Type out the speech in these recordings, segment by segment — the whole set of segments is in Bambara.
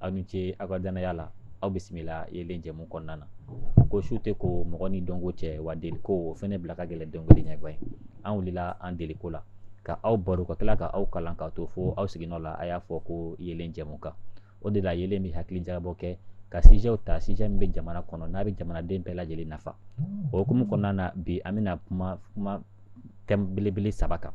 aw ni ce aw ka danaya la aw bisimila yelen jɛmu kɔnɔna na ko su tɛ ko mɔgɔ ni dɔnko cɛ wa deliko o fɛnɛ bila ka gɛlɛn dɔnkili ɲɛgɔn ye an wulila an deliko la ka aw baro ka tila ka aw kalan k'a to fo aw siginnɔ la a y'a fɔ ko yelen jɛmu kan o de la yelen bɛ hakili jagabɔ kɛ ka sijɛw ta sijɛ min bɛ jamana kɔnɔ n'a bɛ jamanaden bɛɛ lajɛlen nafa o hukumu kɔnɔna na bi an bɛna kuma kuma thème belebele saba kan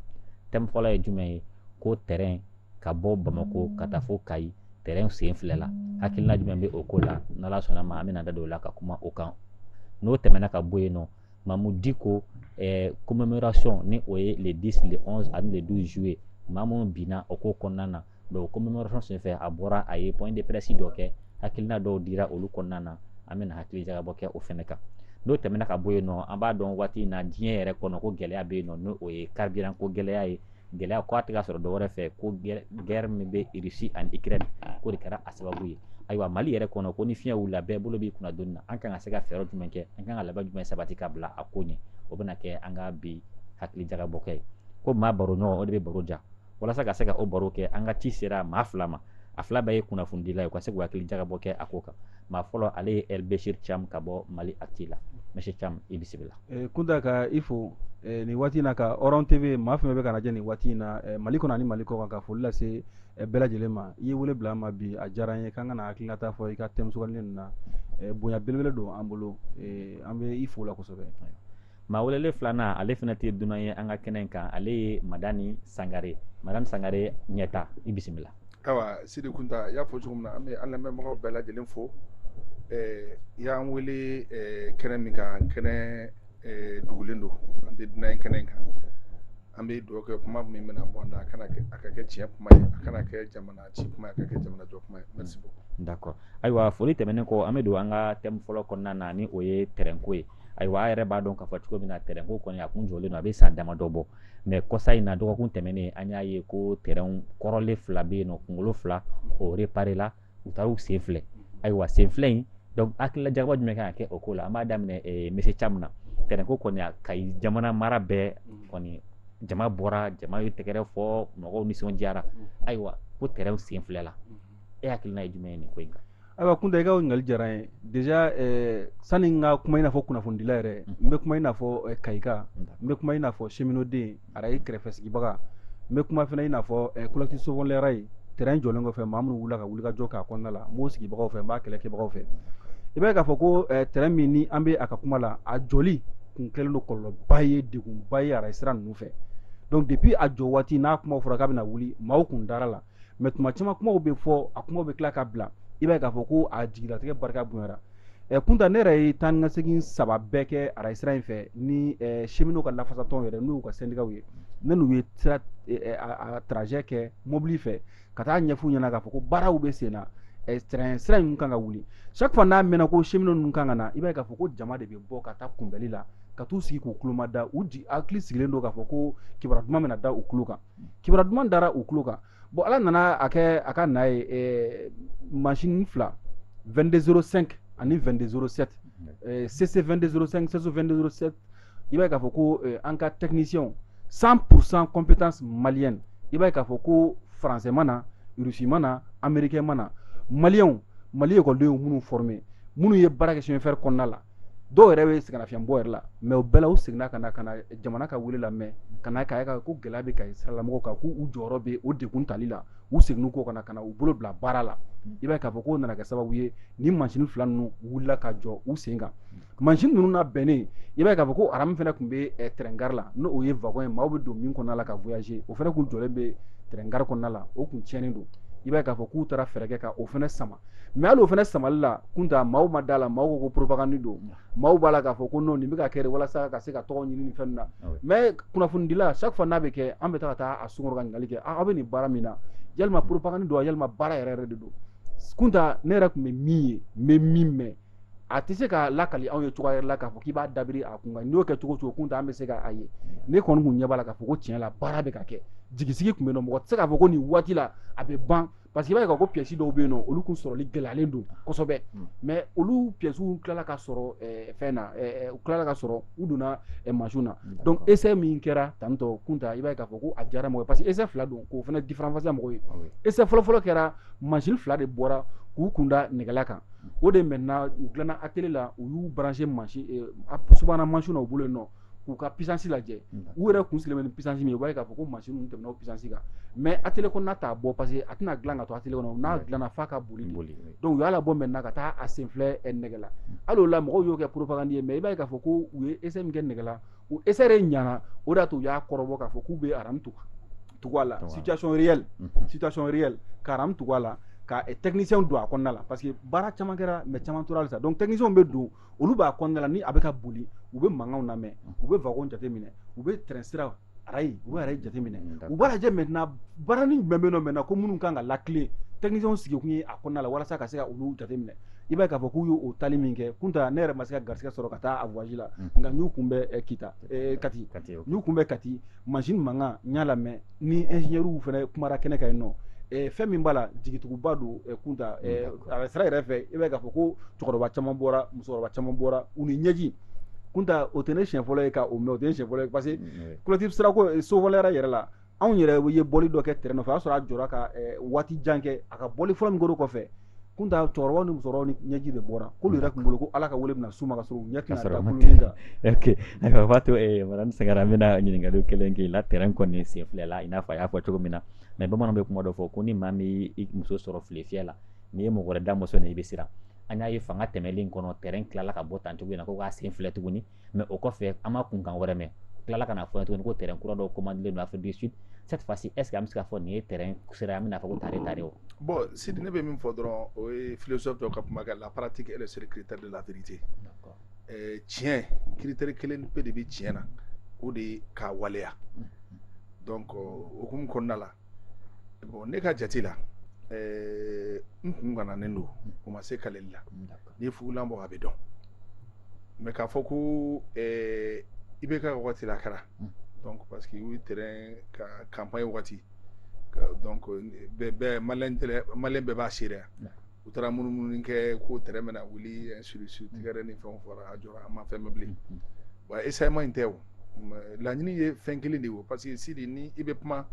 thème fɔlɔ ye jumɛn ye ko tɛrɛn ka bɔ bamakɔ ka taa fo kayi tɛrɛn sifilɛla hakilina jumɛn bɛ o ko la n'ala sɔnna ma an bɛna da don o la ka kuma o kan n'o tɛmɛna ka bɔ yen nɔ mahmoud dicko eh, commémoration ni o ye le 10 le 11 ani le 12 juillet maa minnu binna o ko kɔnɔna na donc commémoration senfɛ a bɔra a ye point de presse dɔ kɛ hakilina dɔw dira olu kɔnɔna na an bɛna hakili jagabɔ kɛ o fɛnɛ kan n'o tɛmɛna ka bɔ yen nɔ an b'a dɔn waati in na diɲɛ yɛrɛ kɔnɔ ko gɛlɛya bɛ yen nɔ ni o ye carburant ko gɛlɛya ye gɛlɛya ko a tɛ ka sɔrɔ dɔwɛrɛ fɛ ko guerre min bɛ russie ani ukraine ko de kɛra a sababu ye ayiwa mali yɛrɛ kɔnɔ ko ni fiɲɛ wulila bɛɛ bolo b'i kunna doni na an kan ka se ka fɛɛrɛ jumɛn kɛ an kan ka labɛn jumɛn sabati ka bila a ko ɲɛ o bɛna kɛ an ka bi hakili jagabɔ kɛ ye ko maa baro ɲɔgɔn o de bɛ baro diya walasa ka se ka o baro kɛ an ka ci sera maa fila ma a fila bɛɛ ye kunnafonidila ye u ka se k'u hakili jagabɔ kɛ a ko kan maa fɔlɔ ale ye El Bechir Thiam ka bɔ Mali Actu la monsieur Thiam i bisimila. Eh, Kunta ka i fo eh, nin waati in na ka Horon TV maa fɛn fɛn bɛ k'an lajɛ nin waati in na eh, Mali kɔnɔ ani Mali kɔkan ka foli lase eh, bɛɛ lajɛlen ma i ye wele bila an ma bi a diyara an ye k'an ka na hakilinata fɔ i ka thème sugandili ninnu na eh, bonya belebele don an bolo eh, an bɛ i fo la kosɛbɛ. maa welele filanan ale fana tɛ dunan ye an ka kɛnɛ in kan ale ye madani sangare madani sangare ɲɛta i bisimila awa sidi kunta i y'a fɔ cogo min na an bɛ an lamɛnbagaw bɛɛ lajɛlen fo eh, i y'an wele eh, kɛnɛ min kan kɛnɛ eh, dugulen don an tɛ dunan ye kɛnɛ in kan an bɛ dugawu kɛ kuma min bɛna bɔ an da a ka kɛ tiɲɛ kuma ye a kana kɛ jamana ci kuma ye a ka kɛ jamana jɔ kuma ye merci beaucoup d'accord ayiwa foli tɛmɛnen kɔ an bɛ don an ka thème fɔlɔ kɔnɔna na ni o ye tɛrɛnko ye ayiwa a yɛrɛ b'a dɔn k'a fɔ cogo min na tɛrɛn ko kɔni a kun jɔlen don a bɛ san damadɔ bɔ mais kɔsa in na dɔgɔkun tɛmɛnen an y'a ye ko tɛrɛn kɔrɔlen fila bɛ yen nɔ kunkolo fila o réparé la u taara u sifilɛ ayiwa sifilɛ in donc hakili jagabɔ jumɛn kan ka kɛ o ko la an b'a daminɛ eh, monsieur thiam na tɛrɛn ko kɔni a kayi jamana mara bɛɛ kɔni jama bɔra jama ye tɛgɛrɛ fɔ mɔgɔw nisɔndiyara ayiwa ko tɛrɛn sifilɛla e hakilina ye jumɛn ye nin ko in kan ayiwa kunta i ka ɲininkali diyara n ye déjà eh, sani n ka kuma i n'a fɔ kunnafonidila yɛrɛ n bɛ kuma i n'a fɔ eh, kayika n bɛ kuma i n'a fɔ cheminot den arayi kɛrɛfɛ sigibaga n bɛ kuma fana i n'a fɔ eh, collectif sauvons les rails tɛrɛn jɔlen kɔfɛ maa minnu wulila ka wulikajɔ k'a kɔnɔna la n b'o sigibagaw fɛ n b'a kɛlɛkɛbagaw fɛ i b'a ye k'a fɔ ko eh, tɛrɛn min ni an bɛ a ka kuma la a jɔli kun kɛlen don kɔlɔlɔba ye degunba ye arayi sira ninnu fɛ donc depuis a jɔ waati n'a kuma fɔra k'a bɛna wuli maaw kun dara la mais tuma caman kumaw bɛ fɔ a kumaw bɛ tila ka bila i b'a ye k'a fɔ ko a jigilatigɛ barika bonyara ɛ kunta ne yɛrɛ ye taa ni ka segin saba bɛɛ kɛ arayi sira in fɛ ni cheminot ka lafasatɔn yɛrɛ n'u ka syndicat ye ne n'u ye sira a trajet kɛ mobili fɛ ka taa ɲɛf'u ɲɛna k'a fɔ ko baaraw bɛ sen na train sira in kan ka wuli chaque fois n'a mɛnna ko cheminot ninnu kan ka na i b'a ye k'a fɔ ko jama de bɛ bɔ ka taa kunbɛli la ka t'u sigi k'u kuloma da u jigi hakili sigilen don k'a fɔ ko kibaruya duman bɛna da u kulo kan kibaruya duman dara u tulo kan bon ala nana a kɛ a ka na ye eh, mansin fila 2205 ani 2207 eh, cc 2205 cc 2207 i b'a ye k'a fɔ ko eh, an ka techniciens 100% compétence malienne i b'a ye k'a fɔ ko français ma na russe ma na américain ma na maliyɛnw mali ekɔlidenw minnu formé minnu ye baara kɛ chemin de fer kɔnɔna la dɔw yɛrɛ bɛ sɛgɛnnafiɲɛbɔ yɛrɛ la mais o bɛɛ la u seginna ka na ka na jamana ka wele lamɛn ka na k'a ye ko gɛlɛya bɛ kayi siralamɔgɔw kan k'u u jɔyɔrɔ bɛ o degun tali la u seginn'u kɔ ka na u bolo bila baara la i b'a ye k'a fɔ k'o nana kɛ sababu ye ni mansin fila ninnu wulila ka jɔ u sen kan mansin ninnu nabɛnnen i b'a ye k'a fɔ ko aramu fana tun bɛ train gare la n' o ye wagon ye maaw bɛ don min kɔnɔna la ka voyager o fana kun jɔlen bɛ train gare kɔnɔna la o tun tiɲɛnen don i b'a ye k'a fɔ k'u taara fɛɛrɛ kɛ ka o fana sama mais hali o fana samali la kunta maaw ma da la maaw ko ko propagande don maaw b'a la k'a fɔ ko non nin bɛ ka kɛ walasa ka se ka tɔgɔ ɲini fɛn na mais kunnafonidila chaque fois n'a bɛ kɛ an bɛ taa ka taa a sun kɔrɔ ka ɲininkali kɛ aw bɛ nin baara min na yalima propagande don a yalima baara yɛrɛ yɛrɛ de don kunta ne yɛrɛ tun bɛ min ye n bɛ min mɛn a tɛ se ka lakali anw ye cogoya yɛrɛ la k'a fɔ k'i b'a dabiri a kun kan n'i y'o kɛ cogo cogo kunta an bɛ se k'a ye ne kɔni kun ɲɛ b'a la k'a fɔ ko tiɲɛ la baara bɛ ka kɛ jigisigi tun bɛ yen nɔ mɔgɔ tɛ se k'a fɔ ko nin waati la a bɛ ban parce que i b'a ye k'a fɔ ko pièce dɔw bɛ yen nɔ olu kun sɔrɔli gɛlɛyalen don kosɛbɛ hmm. mais olu pièces tilala ka sɔrɔ eh, fɛn na eh, eh, u tilala ka sɔrɔ u donna mansinw na hmm, donc essai min kɛra tantɔ kunta i b'a ye k'a fɔ ko a diyara mɔgɔ ye parce que essai fila don k'o fana différencier mɔgɔw ye ah essai fɔlɔfɔlɔ kɛra mansin fila de bɔra k'u kun da nɛgɛla kan hmm. o de maintenant u dilanna atelier la u y'u brancher mansin subahana mansinw na u bolo yen nɔ k'u ka puissance lajɛ u yɛrɛ kun sigilen bɛ ni puissance min ye u b'a ye k'a fɔ ko mansin ninnu tɛmɛna o puissance kan mais atelier kɔnɔna t'a bɔ parce que a tɛna dilan ka to atelier kɔnɔ n'a dilanna f'a ka boli de donc u y'a labɔ maintenant ka taa a senfilɛ nɛgɛla hali o la mɔgɔw y'o kɛ propagande ye mais i b'a ye k'a fɔ ko u ye essai min kɛ nɛgɛla o essai de ɲana o de y'a to u y'a kɔrɔbɔ k'a fɔ k'u bɛ aramu tugu a la situation réelle situation réelle ka aramu tugu a la ka technicien don a kɔnɔna la parce que baara caman kɛra mais caman tora halisa donc technicien bɛ don olu b'a kɔnɔna la ni a bɛ ka boli u bɛ mankanw lamɛn u bɛ wagon jateminɛ u bɛ train sira arayi u bɛ arayi jateminɛ u b'a lajɛ maintenant baarani jumɛn bɛ yen nɔ maintenant ko minnu kan ka lakilen techniciens sigikun ye a kɔnɔna la walasa ka se ka olu jateminɛ i b'a ye k'a fɔ k'u y'o tali min kɛ kunta ne yɛrɛ ma se ka garisigɛ sɔrɔ ka taa a voyage la nka n y'u kunbɛn kita kati n y'u kunbɛn kati machine mankan n y'a lamɛn ni ingénieurs fana kumara kɛnɛ kan yen nɔ eh, fɛn min b'a la jigituguba don eh, kunta eh, mm. a sira yɛrɛ fɛ i b'a ye k'a fɔ ko cɛkɔrɔba caman bɔra musokɔrɔba caman bɔra u ni ɲɛji kunta o tɛ ne siɲɛ fɔlɔ ye ka o mɛn o tɛ ne siɲɛ fɔlɔ ye parce que mm, collectif sirako eh, Sauvons le rail yɛrɛ la anw yɛrɛ ye bɔli dɔ kɛ train nɔfɛ o y'a sɔrɔ a jɔra ka eh, waati jan kɛ a ka bɔli fɔlɔ min kɛr'o kɔfɛ kunta cɛkɔrɔba ni musokɔrɔba ni ɲɛji de bɔra k'olu yɛrɛ tun bolo ko ala ka wele bɛna s'u ma ka sɔrɔ u ɲɛ tɛna da kulun nin kan ok ayiwa b'a to eh, madame Sangare an bɛna ɲininkali kelen k'i la train kɔni sifilɛla i n'a fɔ a y'a fɔ cogo min na mais bamananw bɛ kuma dɔ fɔ ko ni maa min y'i muso sɔrɔ file fiyɛ la n'i ye mɔgɔ wɛrɛ da mɔsɔnnen i bɛ siran an y'a ye fanga tɛmɛlen kɔnɔ train tilala ka bɔ tan cogo in na ko k'a sifilɛ tuguni mais o kɔfɛ an ma kunkan wɛrɛ mɛn tilala ka n'a fɔ tuguni ko train kura dɔ commandelen don Afrique du Sud cette fois ci est ce que an bɛ se k'a fɔ nin ye train sera an bɛna fɔ ko tare tare o bon Sidi ne bɛ min fɔ dɔrɔn o ye philosophe dɔ ka kuma kɛ la pratique est le seul critère de la vérité eh, tiɲɛ critère kelen pe de bɛ tiɲɛ na o de ye k'a waleya donc o hukumu kɔnɔna la bon ne ka jate la eh, n kun gananen don o ma se kaleli la n'i ye fugulan bɔ a bɛ dɔn mais k'a fɔ ko eh, IBK wagati l'a kɛra mm. donc parce que u train ka campagne wagati donc bɛɛ malien bɛɛ b'a seereya u taara munumunu kɛ ko tɛrɛn bɛna wuli sirisi tigɛɛrɛ ni fɛn fɔra a jɔra an ma fɛn mɛn bilen wa essayement in tɛ o laɲini ye fɛn kelen de ye o parce que sidi ni i bɛ kuma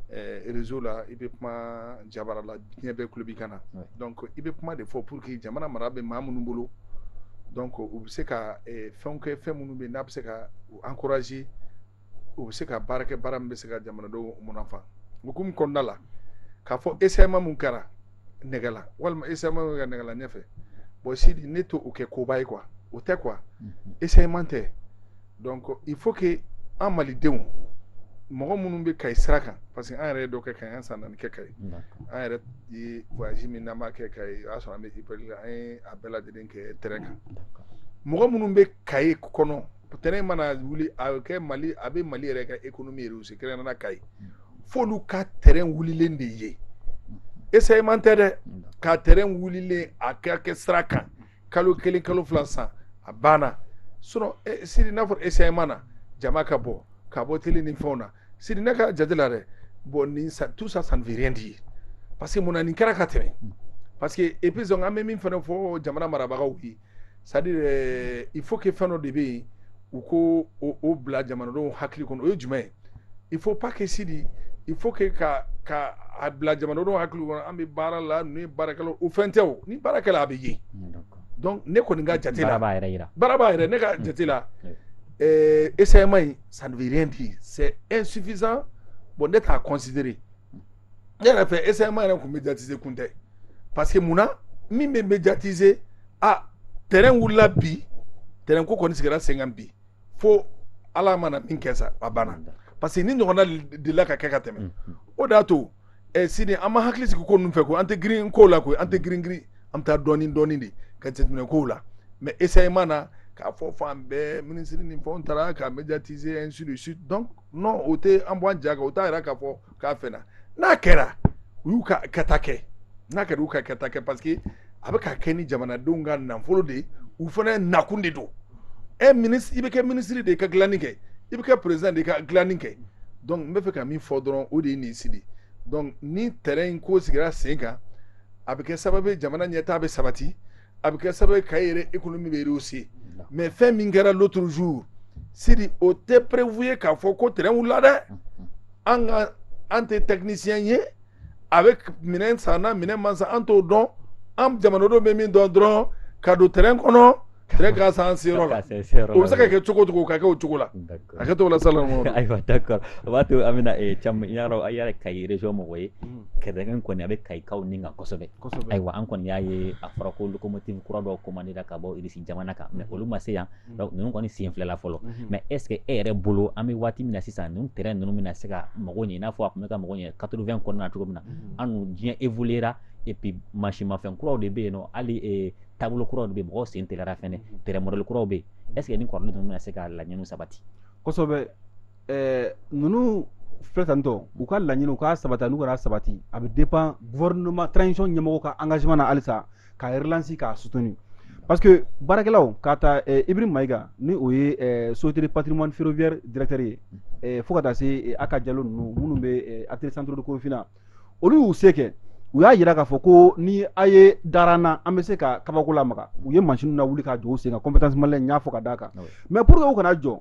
réseau la i bɛ kuma jabara la diɲɛ bɛɛ kulo b'i kan na donc i bɛ kuma de fɔ pour que jamana mara bɛ maa minnu bolo donc u bɛ se ka fɛn kɛ fɛn minnu bɛ n'a bɛ se ka encourager u bɛ se ka baara kɛ baara min bɛ se ka jamanadenw munafan hukumu kɔnɔna la k'a fɔ essayement min kɛra nɛgɛla walima essayement ka nɛgɛla ɲɛfɛ bon sidi ne t'o kɛ koba ye quoi o tɛ quoi essayement tɛ donc il faut que an malidenw mɔgɔ minnu bɛ Kayi sira kan parce que an yɛrɛ ye dɔ kɛ Kayi an ye san naani kɛ Kayi an yɛrɛ ye voyage min na kɛ Kayi o y'a sɔrɔ an bɛ an ye a bɛɛ lajɛlen kɛ tɛrɛn kan mɔgɔ minnu bɛ Kayi kɔnɔ tɛrɛn mana wuli a bɛ kɛ mali a bɛ mali yɛrɛ ka économie rehausser kɛrɛnkɛrɛnnenya Kayi f'olu ka tɛrɛn wulilen de ye essayement tɛ dɛ ka tɛrɛn wulilen a ka kɛ sira kan kalo kelen kalo fila san a banna sinon e, Sidi n'a fɔra essayement na jama ka bɔ ka bɔ télé ni fɛnw na Sidi ne ka jate la dɛ bon nin ça tout ça ça ne veut rien dire parce que mun na nin kɛra ka tɛmɛ parce que et puis sɔn an bɛ min fana fɔ jamana marabagaw ye c'est à dire il faut que fɛn dɔ de bɛ yen u ko o bila jamanadenw hakili kɔnɔ o ye jumɛn ye il faut pas que sidi il faut que ka ka a bila jamanadenw hakili kɔnɔ an bɛ baara la ninnu ye baarakɛla o fɛn tɛ o ni baara kɛla a bɛ ye donc ne kɔni ka jate la baaraba yɛrɛ ne ka jate la essayement in ça ne veut rien dire c'est insuffisant bon ne t'a consi ne yɛrɛ fɛ essayement yɛrɛ tun médiatiser kun tɛ parce que mun na min bɛ médiatiser tɛrɛn wulila bi tɛrɛn ko kɔni sigira sen kan bi fo ala mana min kɛ sa a banna parce que ni ɲɔgɔnna delila ka kɛ ka tɛmɛ o de y'a to eh, sidi an ma hakili sigi ko ninnu fɛ ko an tɛ girin kow la koyi an tɛ girin girin an bɛ taa dɔɔnin dɔɔnin de ka jateminɛ kow la mais essayement na k'a fɔ fan bɛɛ minisiri ni fɛnw taara ka médiatiser ainsi de suite donc non o tɛ an bɔ an ja kan o t'a yira k'a fɔ k'a fɛn na n'a kɛra u y'u ka kɛta kɛ n'a kɛra u ka kɛta kɛ parce que a bɛ ka kɛ ni jamanadenw ka nafolo de ye u fana nakun de don e eh, minisiri i bɛ kɛ minisiri de ye ka dilanni kɛ i bɛ kɛ perezidan de ye ka dilanni kɛ donc n bɛ fɛ ka min fɔ dɔrɔn o de ye nin ye sidi donc ni tɛrɛn in ko sigira sen kan a bɛ kɛ sababu ye jamana ɲɛtaa bɛ sabati a bɛ kɛ sababu ye kayi yɛrɛ économie bɛ rehausser mais fɛn min kɛra l'autre jour sidi o tɛ preuve ye k'a fɔ ko tɛrɛn wulila dɛ an ka an tɛ technicien ye a bɛ minɛn sanna minɛn ma san an t'o dɔn an jamanadenw bɛ min dɔn dɔrɔn ka don tɛrɛn kɔnɔ tɛrɛn ka se an seyɔrɔ la o bɛ se ka kɛ cogo cogo ka kɛ o cogo la a kɛ to la sa ayiwa d'accord o b'a to an bɛna caman yɔrɔ a yɛrɛ kayi région mɔgɔ ye tɛrɛn kɔni a bɛ kayikaw ni kan kosɛbɛ ayiwa an kɔni y'a ye a fɔra ko locomotive kura dɔw commandera ka bɔ irisi jamana kan mais olu ma se yan ninnu kɔni sifilɛla fɔlɔ mais est ce que e yɛrɛ bolo an bɛ waati min na sisan ninnu tɛrɛn ninnu bɛna se ka mago ɲɛ i n'a fɔ a tun bɛ ka mago ɲɛ quatre vingt kɔnɔna cogo min na an dun diɲɛ évoluera et puis mansinmafɛn kuraw de bɛ yen nɔ hali taabolo kuraw de bɛ mɔgɔ sen teliyara fana tɛrɛn modèle kuraw bɛ yen est ce que nin kɔrɔlen ninnu bɛna se ka laɲini sabati ɛɛ ninnu filɛ tantɔ u ka laɲini u ka sabati n'u kana sabati a bɛ dépend gouvernement transition ɲɛmɔgɔ ka engagement na halisa ka relance k'a soutenir parce que baarakɛlaw k'a ta eh, ibrahim mayiga ni o ye eh, société patrimoine ferroviaire directeur ye eh, fo ka taa se eh, a ka jalo ninnu minnu bɛ eh, atelier centre de korofina olu y'u se kɛ u y'a yira k'a fɔ ko ni a ye dara an na an bɛ se ka kabako lamaga u ye mansin lawuli ka jɔ u sen kan compétence malien n y'a fɔ ka d'a kan ah mais pour que u kana jɔ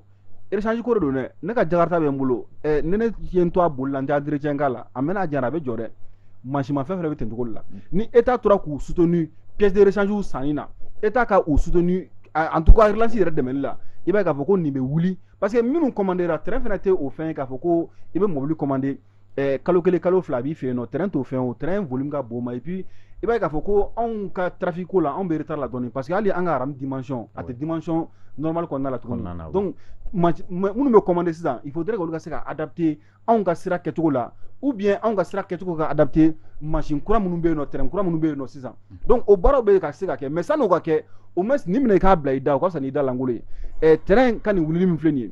rechange ko de don dɛ ne ka jakarta bɛ n bolo ɛ ni ne ye n to a boli la n tɛ entretien k'a la a mɛna a jara a bɛ jɔ dɛ mansinmafɛn fana bɛ ten cogo de la ni état tora k'u soutenu pièces de rechange sanni na état ka u soutenu en tout cas relance yɛrɛ dɛmɛli la i b'a ye k'a fɔ ko nin bɛ wuli parce que minnu commandera tɛrɛn fana tɛ o fɛn ye k'a fɔ ko i bɛ mobili commander eh, kalo kelen kalo fila a b'i fɛ yen nɔ tɛrɛn t'o fɛn o tɛrɛn volume ka bon ma et puis i b'a ye k'a fɔ ko anw ka trafic ko la anw bɛ retard la dɔɔni parce que hali an ka arayi dimension a tɛ dimension normal kɔnɔna la tuguni donc minnu bɛ commander sisan il faudrait k'olu ka se ka adapter anw ka sira kɛcogo la ou bien anw ka sira kɛcogo ka adapter mansin kura minnu bɛ yen nɔ tɛrɛn kura minnu bɛ yen nɔ sisan donc o baaraw bɛ ka se ka kɛ mais san'o ka kɛ au moins nin minɛ i k'a bila i da o ka fisa n'i da lankolon ye tɛrɛn ka nin wulili min filɛ nin ye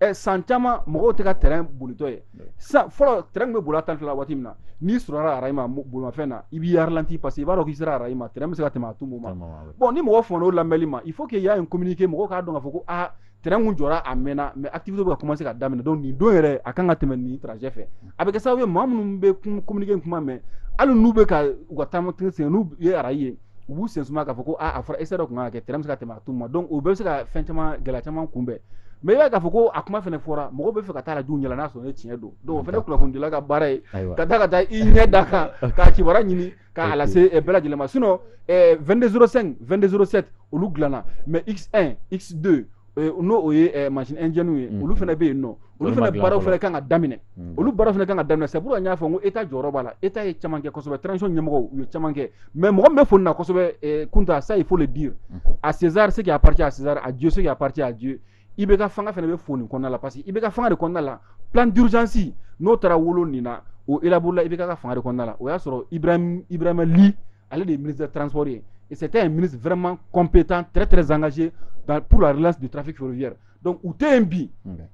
ɛ san caman mɔgɔw tɛ ka tɛrɛn bolitɔ ye sisan fɔlɔ tɛrɛn bɛ boli a tan fila waati min na n'i sɔrɔla arayi ma bolimafɛn na i b'i ralenti parce que i b'a dɔn k'i sera arayi ma tɛrɛn bɛ se ka tɛmɛ à tout moment bon ni mɔgɔ faman'o lamɛnli ma il faut qu'il y ait un communiqué mɔgɔw k'a dɔn k'a fɔ ko aa tɛrɛn kun jɔra a mɛnna mais activité bɛ ka commencer ka daminɛ donc nin don yɛrɛ a kan ka tɛmɛ nin trajet fɛ a bɛ kɛ sababu ye maa minnu bɛ communiqué kuma mɛn hali n'u bɛ ka u ka taama sen n'u ye arayi ye u b'u sen suma k'a fɔ ko a fɔra essai dɔ kun kan ka kɛ tɛrɛn bɛ se ka tɛmɛ à tout moment donc o bɛɛ bɛ se ka fɛn caman gɛlɛya caman kunbɛn mais i b'a ye k'a fɔ ko a kuma fana fɔra mɔgɔ bɛ fɛ ka taa la dun yɛlɛ n'a sɔrɔ ne tiɲɛ don donc o fana kunnafonidila ka baara ye ka taa ka taa i ɲɛ da a kan k'a kibaruya ɲini k'a lase eh, bɛɛ lajɛlen ma sinon 22 eh, 05 22 07 olu dilanna mais x1 x2 n'o o ye ma jɛw ye olu fana bɛ yen nɔ olu fana baaraw fana kan ka daminɛ olu baara fana kan ka daminɛ sabu y'a fɔ ko e ta jɔyɔrɔ b'a la e ta ye camankɛ kɔsɛbɛ tsi ɲɛmɔgɔ u ye camankɛ mɛ mɔgɔ bɛ fɔ nasɛbɛ kunta a sayi fɔ de di a sinzari se a pati a sinzari a jo se a pati a jo i bɛ ka fanga fana bɛ foni kɔnɔna la parce que i bɛ ka fanga de kɔnɔna la pdsansi n'o taara wolo nin na o e bolola i bɛ ka fanga de kɔnɔna la o y'a sɔrɔ i bɛ li ale de ye ministre des transports ye et c'était un ministre vraiment compétent très très engagé dans, pour la relance du trafic ferroviaire donc u tɛ yen bi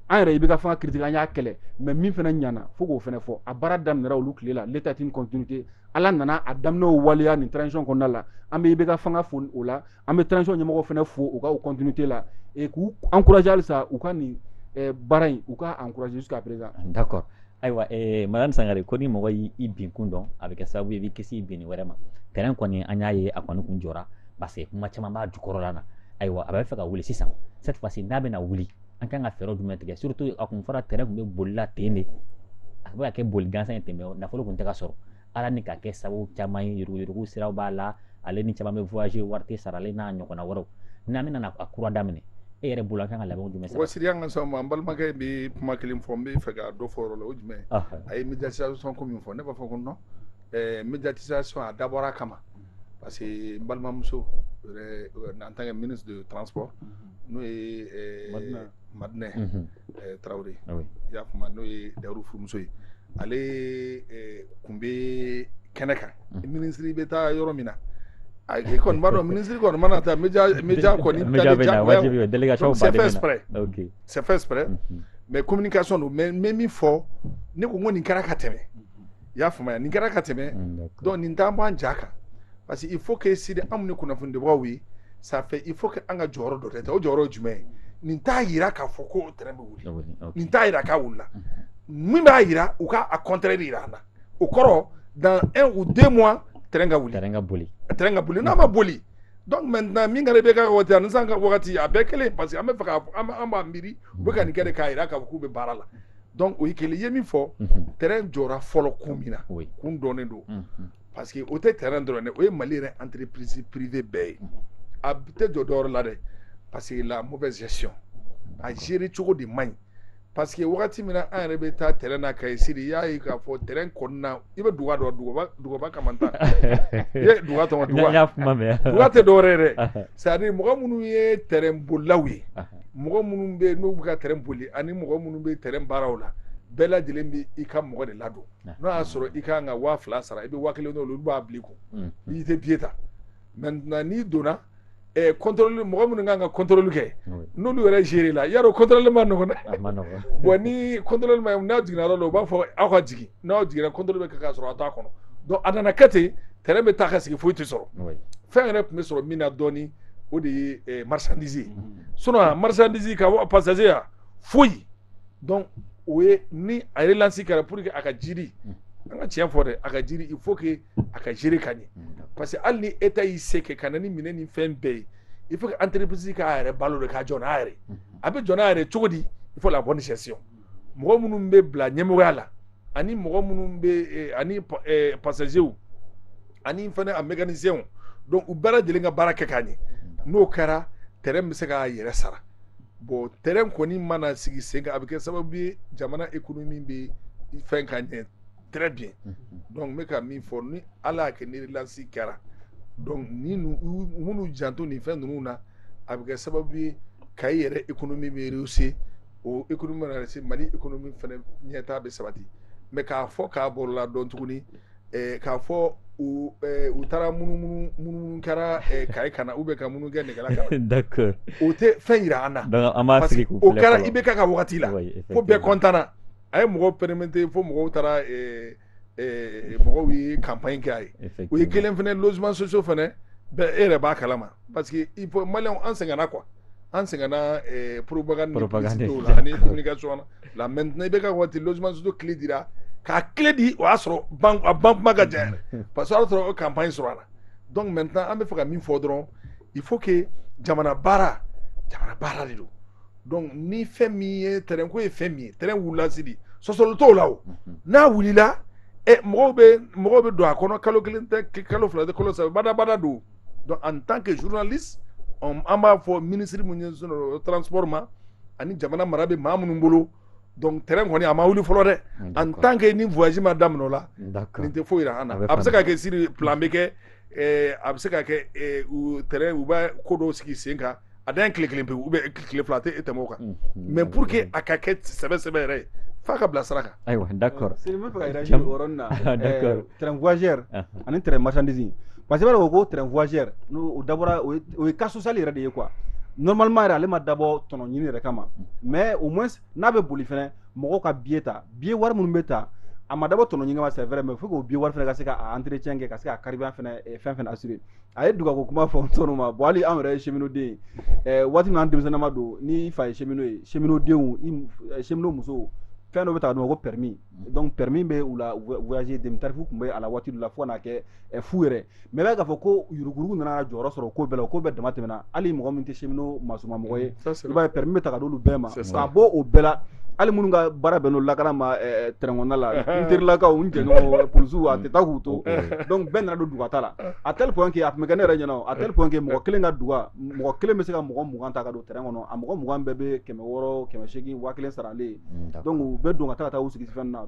an yɛrɛ ibk fanga critiquer an y'a kɛlɛ mais min fana ɲana fo k'o fana fɔ a baara daminɛra olu tile la l'état est une continuité ala nana a daminɛw waleya nin transition kɔnɔna la an bɛ ibk fanga fo o la an bɛ transition ɲɛmɔgɔw fana fo u ka u continuité la et k'u encourager halisa u ka nin eh, baara in u ka encourager jusqu'à présent d'accord ayiwa eh, madame sangare ko ni mɔgɔ y'i binkun dɔn a bɛ kɛ sababu ye i b'i kisi i binni wɛrɛ ma tɛrɛn kɔni an y'a ye a kɔni kun jɔra parce que kuma caman b'a jukɔrɔla na ayiwa a bɛ fɛ ka wuli sisan cette fois ci n'a bɛna wuli an kan ka fɛɛrɛ jumɛn tigɛ surtout a kun fɔra tɛrɛn kun bɛ bolila ten de a bɛ ka kɛ boli gansan ye ten mais nafolo kun tɛ ka sɔrɔ ala ni ka kɛ sababu caman ye yuruguyurugu siraw b'a la ale ni caman bɛ voyager wari tɛ sara ale n'a ɲɔgɔnna wɛrɛw n'an bɛna na a kura daminɛ e yɛrɛ bolo an kan ka labɛnw jumɛn sara wasiri an ka sa ma n balimakɛ bɛ kuma kelen fɔ n bɛ fɛ ka dɔ fɔ yɔrɔ la o jumɛn a ye médiatisation ko min fɔ ne b'a fɔ ko non eh, médiatisation a dabɔra a kama parce que n balimamuso yɛrɛ en tant que ministre de transport n'o ye eh, madinɛ tarawele i y'a faamu n'o ye dauru furumuso ye ale tun bɛ kɛnɛ kan minisiri bɛ taa yɔrɔ min na a kɔni b'a dɔn minisiri kɔni mana taa média kɔni délégation c'est fait exprès mais communication don mais min fɔ ne ko ko nin kɛra ka tɛmɛ i y'a faamuya nin kɛra ka tɛmɛ donc nin t'an bɔ an ja kan parce que il faut que sidi anw ni kunnafonidibagaw ye ça fait il faut que an ka jɔyɔrɔ dɔ de ta o jɔyɔrɔ ye jumɛn ye nin t'a yira k'a fɔ ko tɛrɛn bɛ wuli nin t'a yira k'a wulila min b'a yira u ka a contraire de yira an na o kɔrɔ dans un ou deux mois tɛrɛn ka wuli tɛrɛn ka boli tɛrɛn ka boli n'a ma boli donc maintenant min kɛra IBK wagati ani sisan ka wagati a bɛɛ kelen parce que an b'a fɛ ka an b'a miiri u bɛ ka nin kɛ de k'a yira k'a fɔ k'u bɛ baara la donc o ye kelen ye min fɔ tɛrɛn jɔra fɔlɔ kun min na kun dɔnnen don parce que o tɛ tɛrɛn dɔrɔn dɛ o ye mali yɛrɛ entreprise privée bɛɛ ye a tɛ jɔ dɔw la dɛ parce que la mauvaise gestion a gérer cogo de man ɲi parce que wagati min na an yɛrɛ bɛ taa tɛrɛn na kaye sidi y'a ye k'a fɔ tɛrɛn kɔnɔna i bɛ duga dɔn dugaba dugaba kamantan i ye duga tɔgɔ duga y'a kuma mɛn duga tɛ dɔwɛrɛ dɛ c'est-à-dire mɔgɔ minnu ye tɛrɛn bolilaw ye mɔgɔ minnu bɛ n'u bɛ ka tɛrɛn boli ani mɔgɔ minnu bɛ tɛrɛn baaraw la bɛɛ lajɛlen bɛ i ka mɔgɔ de ladon n'o y'a sɔrɔ i kan ka waa fila sara i bɛ waa kelen olu b'a bila u kun i tɛ biye ta maintenant n'i donna contrôle mɔgɔ minnu kan ka contrôle kɛ n'olu yɛrɛ gérer la ya contrôle ma nɔgɔ bon ni contrôle ma n'a jiginna yɔrɔ la u b'a fɔ aw ka jigin n'aw jiginna contrôle bɛ k'a sɔrɔ a t'a kɔnɔ donc a nana kɛ ten tɛrɛn bɛ taa ka sigi foyi tɛ sɔrɔ fɛn yɛrɛ tun bɛ sɔrɔ min na dɔɔnin o de ye marchandise sinon marchandise ka passager foyi donc o ye ni a relance kɛra pour que a ka durer an ka tiɲɛ fɔ dɛ a ka durer il faut a ka gérer ka ɲɛ parce que hali ni État y'i se kɛ ka na ni minɛn ni fɛn bɛɛ ye il faut que entreprise k'a yɛrɛ balo de k'a jɔ n'a yɛrɛ a bɛ jɔ n'a yɛrɛ cogo di il faut la bonne gestion mɔgɔ minnu bɛ bila ɲɛmɔgɔya la ani mɔgɔ minnu bɛ ani passagers ani fana a mécaniciens donc u bɛɛ lajɛlen ka baara kɛ k'a ɲɛ n'o kɛra tɛrɛn bɛ se k'a yɛrɛ sara bon tɛrɛn kɔni mana sigi sen kan a bɛ kɛ sababu ye jamana économie bɛ fɛn ka ɲɛ très bien donc n bɛ ka min fɔ ni ala y'a kɛ ni relance kɛra donc ni minnu janto nin fɛn ninnu na a bɛ kɛ sababu ye kaye yɛrɛ économie bɛ rehausser o économie mana rehausser mali économie fana ɲɛtaa bɛ sabati mais k'a fɔ k'a bolila dɔn tuguni ɛɛ k'a fɔ u ɛɛ u taara munumunu munumunu kɛra ɛɛ kaye kan na ou bien ka munumunu kɛ nɛgɛla kan na d'accord o tɛ fɛn jira an na donc an b'a sigi k'u filɛ fɔlɔ o kɛra IBK ka wagati la fo bɛɛ content na. a ye mɔgɔ permettre fo mɔgɔw taara mɔgɔw ye campagne kɛ a ye o ye kelen fana logement social fana e yɛrɛ b'a kala ma parce que i ma an sɛgɛnna quoi an sɛgɛnna propagande la ani communication la maintenant IBK waati logement social clé dira k'a clé di o y'a sɔrɔ a ban ka diya parce que y'a sɔrɔ o campagne sɔrɔ a la donc maintenant an bɛ fɛ ka min fɔ dɔrɔn il faut que jamana baara jamana baara de don donc ni fɛn min ye tɛrɛn ko ye fɛn min ye tɛrɛn wulila sidi sɔsɔli t'o la o n'a wulila ɛ mɔgɔw bɛ mɔgɔw bɛ don a kɔnɔ kalo kelen tɛ kalo fila tɛ kalo saba badabada don donc en tant que journaliste an b'a fɔ ministre min ye transport ma ani jamana mara bɛ maa minnu bolo donc tɛrɛn kɔni a ma wuli fɔlɔ dɛ en tant que ni voyage ma daminɛ o la nin tɛ foyi jira an na a bɛ se ka kɛ siri filan bɛ kɛ a bɛ se ka kɛ tɛrɛn u bɛ ko dɔw sigi sen kan a dan tile kelen pe u bɛ tile fila a tɛ tɛmɛ o kan mais pour que a ka kɛ sɛbɛ sɛbɛ yɛrɛ ye fo a ka bila sira kan ayiwa d'accord tɛrɛn voyageur ani tɛrɛn marchandise parce que b'a ko ko tɛrɛn voyageur n' dabɔra o ye cas social yɛrɛ de ye quoi normalement yɛrɛ ale ma dabɔ tɔnɔnɲini yɛrɛ kama mais au moins n'a bɛ boli fana mɔgɔw ka biye ta biye wari minnu bɛ ta a ma dabɔ tɔnɔ ɲini kama c'est vrai mais faut que biye wari fana ka se ka entretien kɛ ka se ka carburant fana eh, fɛn fɛn assurer a ye dugako kuma fɔ tɔnɔ ma bon hali anw yɛrɛ ye cheminot den eh, waati min an denmisɛnnama don ni fa ye cheminot ye cheminot denw eh, cheminot musow fɛn dɔ bɛ ta dɔn ko permis donc permis bɛ u la voyager demi tarif tun bɛ a la waati dɔ la fo ka n'a kɛ fu yɛrɛ mais b'a k'a fɔ ko yuruguurugu nana jɔyɔrɔ sɔrɔ ko bɛɛ la ko bɛɛ damatɛmɛna hali mɔgɔ min tɛ cheminot masumamɔgɔ ye mm, b'a ye permis bɛ ta ka d'olu bɛɛ ma k'a bɔ o bɛɛ la hali minnu ka baara bɛn n'o lakana ma tɛrɛnda la n terilakaw n jɛɲɔgɔn polisiw a tɛ taa k'u to donc bɛɛ nana don dugata la à tel point que a tun bɛ kɛ ne yɛrɛ ɲɛna à tel point que mɔgɔ kelen ka duga mɔgɔ kelen bɛ se ka mɔgɔ mugan ta ka don tɛrɛn kɔnɔ a mɔgɔ mugan bɛɛ bɛ kɛmɛ wɔɔrɔ kɛmɛ segin waa kelen saralen donc u bɛ don ka taa taa u sigi fɛn na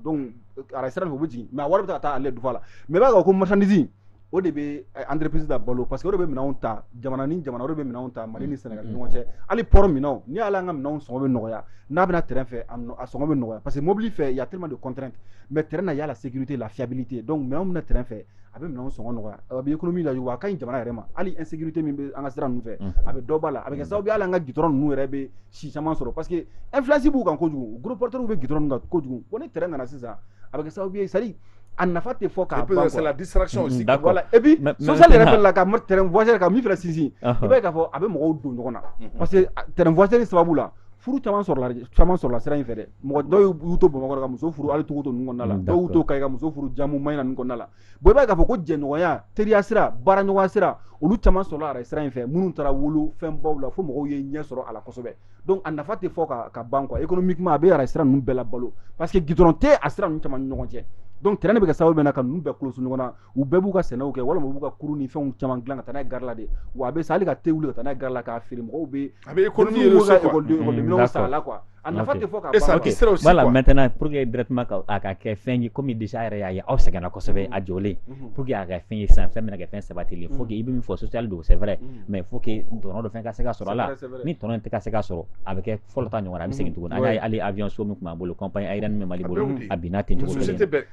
ara sira fɛ u bɛ jigin mais a wari bɛ ka taa ale dufa la mais wagon marchandise o de bɛ entreprise da balo parce que o de bɛ minɛnw ta jamana ni jamana o de bɛ minɛnw ta mali ni sénégal ni ɲɔgɔn cɛ hali port minɛnw ni ala an ka minɛnw sɔngɔ bɛ nɔgɔya n'a bɛna tɛrɛn fɛ a sɔngɔ bɛ nɔgɔya parce que mobili fɛ il y a tellement de contraintes mais tɛrɛn na il y a la sécurité la fiabilité donc minɛnw bɛna na tɛrɛn fɛ a bɛ minɛnw sɔngɔ nɔgɔya a bɛ économie la wa a ka ɲi jamana yɛrɛ ma hali insécurité min bɛ an ka sira ninnu fɛ a bɛ dɔ bɔ a la a bɛ kɛ sababu ye hali an ka gudɔrɔn ninnu yɛrɛ bɛ si caman sɔrɔ parce que influence b'u kan kojugu gros porteurs bɛ gudɔrɔn kan kojugu bon ni tɛrɛn nana sisan a bɛ kɛ sababu ye c'est à dire a nafa tɛ fɔ k'a ban c'est la distraction aussi d'accord voilà et puis social yɛrɛ fɛnɛ la ka tɛrɛn voyageur ka min fɛnɛ sinsin i b'a ye k'a fɔ a bɛ mɔgɔw don ɲɔgɔn na parce que tɛrɛn voyageur sababu la furu caman sɔrɔla sira in fɛ dɛ mɔgɔ dɔw y'u to bamakɔ ka muso furu hali tukoto ninnu kɔnɔna la mm, dɔw y'u to kayi ka muso furu jamu mayina ninnu kɔnɔna la bon i b'a ye k'a fɔ ko jɛɲɔgɔnya teriya sira baaraɲɔgɔnya sira olu caman sɔrɔla arayi sira in fɛ minnu taara wolo fɛnbaw la fo mɔgɔw ye ɲɛ sɔrɔ a la kosɛbɛ donc a nafa tɛ fɔ ka ban quoi économiquement a bɛ arayi sira ninnu bɛɛ labalo parce que gidɔrɔn tɛ a sira ninnu caman ni ɲɔgɔn cɛ donc tɛrɛn de bɛ kɛ sababu bɛ na ka ninnu bɛɛ koloso ɲɔgɔn na u bɛɛ b'u ka sɛnɛw kɛ walima u b'u ka kurun ni fɛnw caman dilan ka taa n'a ye gari la de wa a bɛ se hali ka te wuli ka taa n'a ye gari la k'a feere mɔgɔw bɛ a bɛ économie yɛrɛ so quoi minɛnw san a la quoi a nafa tɛ fɔ ka ban sira aussi quoi voilà maintenant pour que directement ka a ka kɛ fɛn ye comme déjà yɛrɛ y'a ye aw sɛgɛnna kosɛbɛ a jɔlen pour que a ka fɛn ye sisan fɛn bɛna kɛ fɛn sabatilen faut que i bɛ min fɔ social don c'est vrai mais faut que tɔnɔ dɔ fɛn ka se ka sɔrɔ a la ni tɔnɔ in tɛ ka se ka sɔrɔ a bɛ kɛ fɔlɔ ta ɲɔgɔn na a bɛ segin tuguni an y'a ye hali avion so min tun b'an bolo compagnie aérienne min bɛ Mali bolo a binna ten cogo kelen na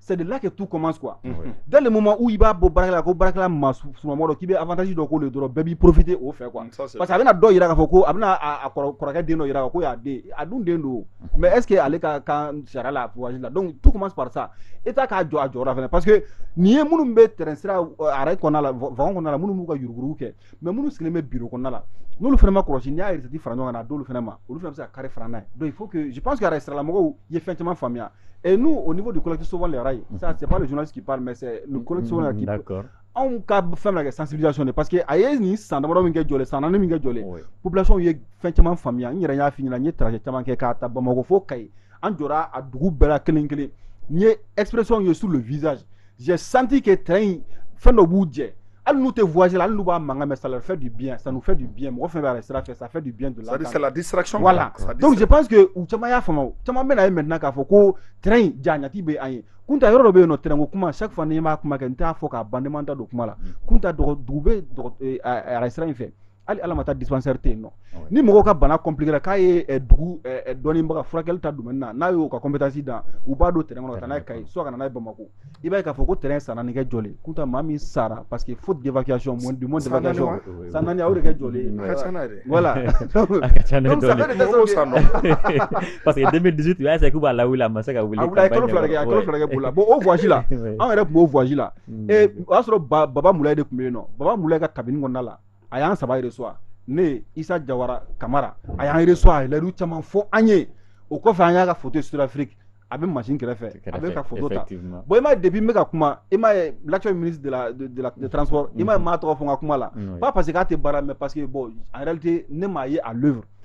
c'est de là que tout commence quoi oui. dès le moment où il b'a bɔ baarakɛla la ko baarakɛla masurunnamɔgɔ dɔ k'i bɛ avantage dɔ k'o le dɔrɔn bɛɛ b'i profiter o fɛ quoi parce que a bɛna dɔ yira k'a fɔ ko a bɛna a kɔrɔkɛ den dɔ yira ko y'a den a dun den don mais est ce que ale ka kan sariya la pouvoir la donc tout commence par ça État k'a jɔ a jɔyɔrɔ fana parce que n'i ye minnu bɛ tɛrɛn sira arayi kɔnɔna la wagon kɔnɔna la minnu b'u ka yuruguyurugu kɛ mais minnu sigilen bɛ biro kɔnɔna la n'olu fana ma kɔlɔsi n'i y'a recette fara ɲɔgɔn kan k'a d'olu fana ma olu fana bɛ se ka kari fara n'a ye donc il faut que je pense que arayi siralamɔgɔw ye fɛn caman faamuya et nous au niveau du collectif sauvons les rails ça c'est pas le journaliste qui parle mais c'est le collectif sauvons les rails qui d'accord anw ka fɛn bɛ kɛ sensibilisation de parce que a ye nin san damadɔ min kɛ jɔlen san naani min kɛ jɔlen population ye fɛn caman faamuya n yɛrɛ y'a f'i ɲɛna n ye trajet caman kɛ k'a ta bamakɔ fo kayi an jɔra a dugu bɛɛ la kelen kelen n ye expression ye sur le visage j'ai senti que train in fɛn dɔ b'u jɛ hali n'u tɛ voyage la hali n'u b'a mankan mɛn ça leur fait du bien ça nous fait du bien mɔgɔ fɛn bɛ arayi sira fɛ ça fait du bien de l'entendre c'est la distraction voilà donc je pense que u caman y'a faamu caman bɛn'a ye maintenant k'a fɔ ko train in jaɲati bɛ an ye kunta yɔrɔ dɔ bɛ yen nɔ train ko kuma chaque fois ni n b'a kuma kɛ n t'a fɔ k'a ban ne mana da don kuma la kunta dugu bɛ arayi sira in fɛ hali ala ma taa dispensaire tɛ yen nɔ ni mɔgɔw ka bana compliquera k'a ye eh, dugu eh, eh, dɔnnibaga furakɛli ta domaine na n'a y'o ka compétence dan u b'a don tɛrɛn kɔnɔ ka taa n'a ye kayi soit ka na n'a ye bamako i b'a ye k'a fɔ ko tɛrɛn san naani kɛ jɔlen kunta maa min sara parce que faute d'évacuation moyen de moyen d'évacuation san naani a y'o de kɛ jɔlen voilà a ka ca n'a ye dɔɔni parce que 2018 u y'a essayer k'u b'a lawuli a ma se ka wuli a wuli a ye kalo fila de kɛ a kalo fila de kɛ boli la bon o voyage la an yɛrɛ tun b'o voyage la o y'a sɔrɔ baba mulaye de tun bɛ yen nɔ baba mulaye ka cabinet kɔnɔna la a y'an saba resuwa ne isa jawara kamara a y'an resuwa a ye layidu caman fɔ an ye o kɔfɛ an y'a ka foto ye sud afrique a bɛ machine kɛrɛfɛ a bɛ ka foto ta bon i m'a ye depuis n bɛ ka kuma i m'a ye l'actuel ministre de la de la de transport i m'a ye n m'a tɔgɔ fɔ n ka kuma la pas parce que k'a tɛ baara mais parce que bon en réalité ne m'a ye à l'œuvre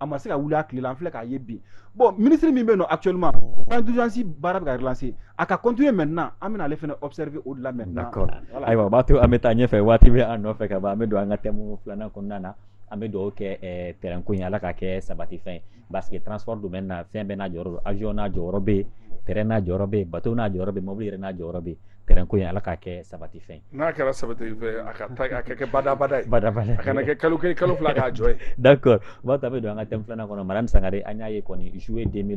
a ma se ka wuli a tile la an filɛ k'a ye bi bon ministre min bɛ yen nɔ actuellement plan d'urgence baara bɛ ka relancer a ka continuer maintenant an bɛna ale fana observer o de la maintenant. d'accord ayiwa o b'a to an bɛ taa ɲɛfɛ waati bɛ an nɔfɛ ka ban an bɛ don an ka thème filanan kɔnɔna na an bɛ dugawu kɛ eh, train ko in ala k'a kɛ sabatifɛn ye parce que transport domaine na fɛn bɛɛ n'a jɔyɔrɔ don avion n'a jɔyɔrɔ bɛ yen train n'a jɔyɔrɔ bɛ yen bateau n'a jɔyɔrɔ bɛ yen mobili yɛrɛ n'a jɔyɔrɔ bɛ yen Gko in ala k'a kɛ sabati fɛ n'a kɛra saba a ka a ka kɛ badabada bada a kana kɛ kalo kɛ kalo fila k'a jɔ da kɔrɔ ba ta bɛ don an ka tɛmɛ filanan kɔnɔ mara sanga an y'a ye kɔni zuo ye den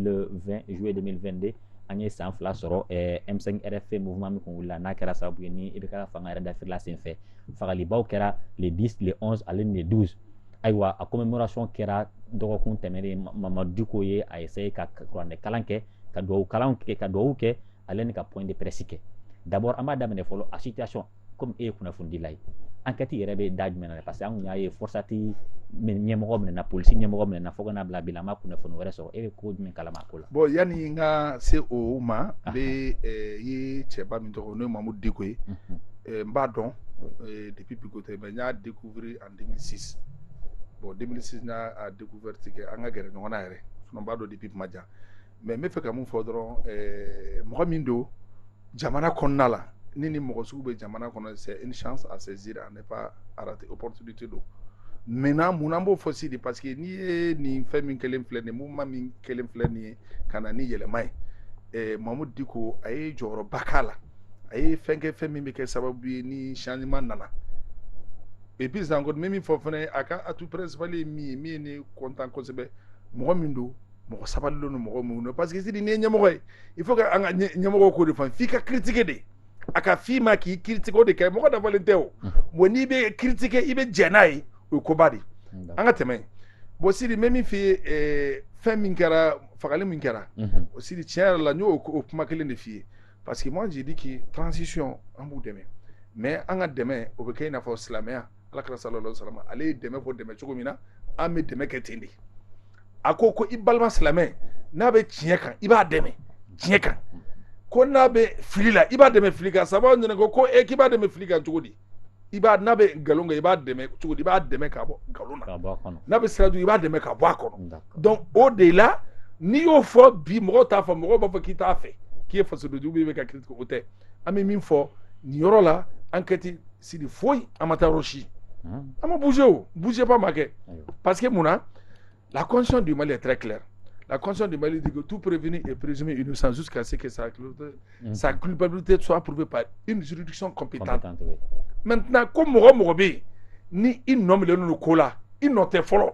zuo de de an ye san fila sɔrɔ emisɛn yɛrɛ fɛn min min tun wili la n'a kɛra sababu ye ni i bɛ ka fanga yɛrɛ dafela senfɛ fagalibaw kɛra le di tile ale de du ayiwa a ko bɛ msɔn kɛra dɔgɔkun tɛmɛnren mama duko ye a ye se ka kuranɛkalan kɛ ka dugawu kalan kɛ ka dugawu kɛ ale ni ka point de presse kɛ d'abord an b'a daminɛ fɔlɔ a situation comme e ye kunnafonidila ye enquête yɛrɛ bɛ da jumɛn na parce que an kun y'a ye forsati ɲɛmɔgɔ minɛna polisi ɲɛmɔgɔ minɛna fo ka n'a bila bi la an ma kunnafoni wɛrɛ sɔrɔ e bɛ ko jumɛn kalama a ko la bon yanni n ka se o ma n bɛ ye cɛba min tɔgɔ n'o ye mamudu diko ye n b'a dɔn depuis bi ko tɛ mais n y'a découvrir en 2006 bon 2006 n y'a découverte kɛ an ka gɛrɛ ɲɔgɔn na yɛrɛ sinon n b'a dɔn depuis kuma jan mais n bɛ fɛ ka mun fɔ dɔrɔn eh, mɔgɔ min don jamana kɔnɔna la ni nin mɔgɔ sugu bɛ jamana kɔnɔ c'est une chance à saisir à ne pas rater opportunité don maintenant mun na n b'o fɔ sidi parce que n'i ye nin fɛn min kɛlen filɛ nin ye mouvement min kɛlen filɛ nin ye ka na ni yɛlɛma ye eh, mamudu diko a ye jɔyɔrɔba k'a la a ye fɛn kɛ fɛn min bɛ kɛ sababu ye ni changement nana et puis encore n bɛ min fɔ fana a ka atout principal ye min ye min ye ne content kosɛbɛ mɔgɔ min don mɔgɔ sabalilen don mɔgɔ min don parce que sidi n'i ye ɲɛmɔgɔ ye il faut que an ka ɲɛmɔgɔ k'o de faamu f'i ka critiquer de a ka f'i ma k'i critiquer o de kɛ mɔgɔ dafalen tɛ o bon n'i bɛ critiquer i bɛ jɛn n'a ye o ye koba de an ka tɛmɛ bon sidi n bɛ min f'i ye eh, fɛn min kɛra fagali min kɛra o sidi tiɲɛ yɛrɛ la n y'o o kuma kelen de f'i ye parce que moi j'ai dit que transition an b'u dɛmɛ mais an ka dɛmɛ o bɛ kɛ i n'a fɔ silamɛya ala kira sallallahu alaihi wasallam ale ye dɛmɛ fɔ dɛmɛ cogo min na an bɛ dɛmɛ kɛ ten de a ko ko i balima silamɛ n'a bɛ tiɲɛ kan i b'a dɛmɛ tiɲɛ kan ko n'a bɛ fili la i b'a dɛmɛ fili kan sahabaw y'a ɲininka ko e k'i b'a dɛmɛ fili kan cogo di i b'a n'a bɛ nkalon kan i b'a dɛmɛ cogo di i b'a dɛmɛ ka bɔ nkalon na n'a bɛ sira jugu i b'a dɛmɛ ka bɔ a kɔnɔ donc o de la n'i y'o fɔ bi mɔgɔw t'a fɔ mɔgɔw b'a fɔ k'i t'a fɛ k'i ye fasodenjugu i bɛ ka critiquer o tɛ an bɛ min fɔ nin yɔrɔ la an kɛ ti sidi foyi an ma taa yɔrɔ si an ma bouger o bougeba ma kɛ parce que mun na la constitution du Mali est très claire la constitution du Mali dit que tout prévenu est présumé innocent jusqu'à ce que sa culpabilité, mm. sa culpabilité soit prouvée par une juridiction compétente, compétente oui. maintenant ko mɔgɔ o mɔgɔ bɛ yen ni i nɔminɛlen don ko la i nɔ tɛ fɔlɔ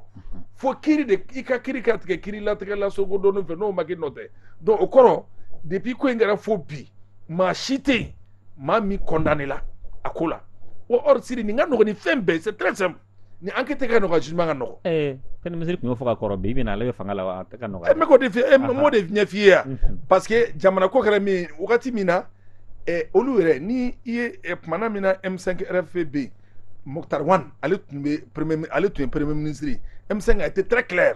fo kiri de i ka kiri ka tigɛ kiri latigɛ lasogo dɔɔni fɛ n'o ma k'i nɔ tɛ donc o kɔrɔ depuis ko in kɛra fo bi maa si tɛ yen maa min condamné la a ko la wa or sidi nin ka nɔgɔn ni fɛn bɛɛ c'est très simple ni enquête ka nɔgɔn jugement ka nɔgɔn ɛɛ premier ministre tun y'o fɔ ka kɔrɔ bi bi na ale bɛ fanga la wa enquête ka nɔgɔn n bɛ k'o de f'i ye n b'o de ɲɛf'i ye yan mhm. parce que jamana ko kɛra min wagati min na ɛ olu yɛrɛ ni i ye kumana min na M5 RFP bɛ yen Moctar Ouane ale tun bɛ premier ale tun ye premier ministre ye M5 a était très clair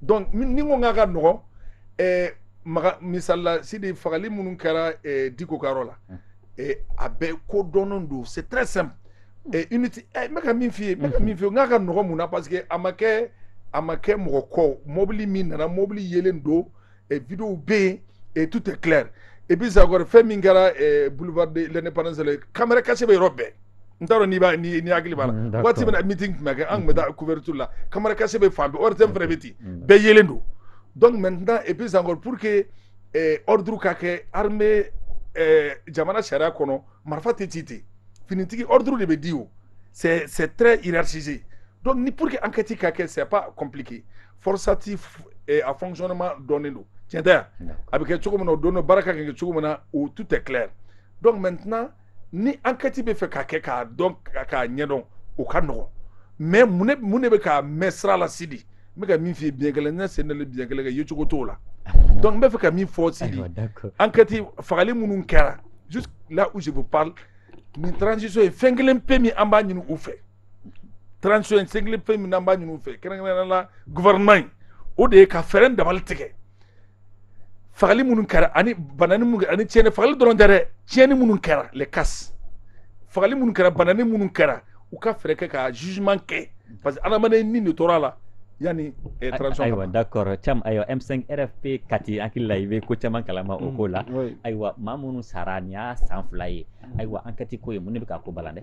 donc ni n ko k'a ka nɔgɔn eh, maga misali la sidi fagali minnu kɛra eh, diko ka yɔrɔ la hmm. eh, a bɛɛ ko dɔnnen don c'est très simple hmm. eh, unité eh, n bɛ ka min f'i ye n bɛ ka min f'i ye n k'a ka nɔgɔn mun na parce que a ma kɛ a ma kɛ mɔgɔ kɔ mɔbili min nana mɔbili yelen don ɛ vidéo bɛ yen et tout est clair et puis encore fɛn min kɛra ɛ boulevard de l'indépendance la caméra cachée bɛ yɔrɔ bɛɛ n t'a dɔn n'i b'a n'i n'i hakili b'a la mm, waati min na meeting tun bɛ kɛ an tun bɛ taa couverture la caméra cachée bɛ fan bɛɛ ORTM fana bɛ ten mm. bɛɛ yelen don donc maintenant et puis encore pour que ɛ ordre ka kɛ armée ɛ jamana sariya kɔnɔ marifa tɛ ci ten finitigi ordre de bɛ di o c'est c'est très hiérarchisé donc ni pour que enquête ka kɛ c'est pas compliqué Forsat a fonctionnement dɔnnen don tiɲɛ tɛ a bɛ kɛ cogo min o don baara ka kɛ cogo min na o tout est clair donc maintenant ni enquête bɛ fɛ ka kɛ k'a dɔn k'a ɲɛdɔn o ka nɔgɔn mais mun de bɛ k'a mɛn sira la sidi n bɛ ka min fɔ bi kelen ne senda bikɛ kɛ ye cogo t'o la donc n bɛ fɛ ka min fɔ sidi enquête fagali minnu kɛra là où je vous parle nin transition ye fɛn kelen pe min an b'a ɲini u fɛ transition ye fɛn kelen pe min n'an b'a ɲini u fɛ kɛrɛnkɛrɛnnenya la gouvernement in o de ye ka fɛɛrɛ dabali tigɛ fagali minnu kɛra ani banani minnu kɛra ani tiɲɛni fagali dɔrɔn tɛ dɛ tiɲɛni minnu kɛra les casses fagali minnu kɛra banani minnu kɛra u ka fɛɛrɛ kɛ ka jugement kɛ parce que adamaden ni de tora a la yanni eh, transition ayiwa ka ban. d'accord Thiam ayiwa m5 rfp kati hakili la i bɛ ko caman kalama o ko la oui. ayiwa maa minnu sara nin y'a san fila ye ayiwa enquête ko ye mun de bɛ ka ko balan dɛ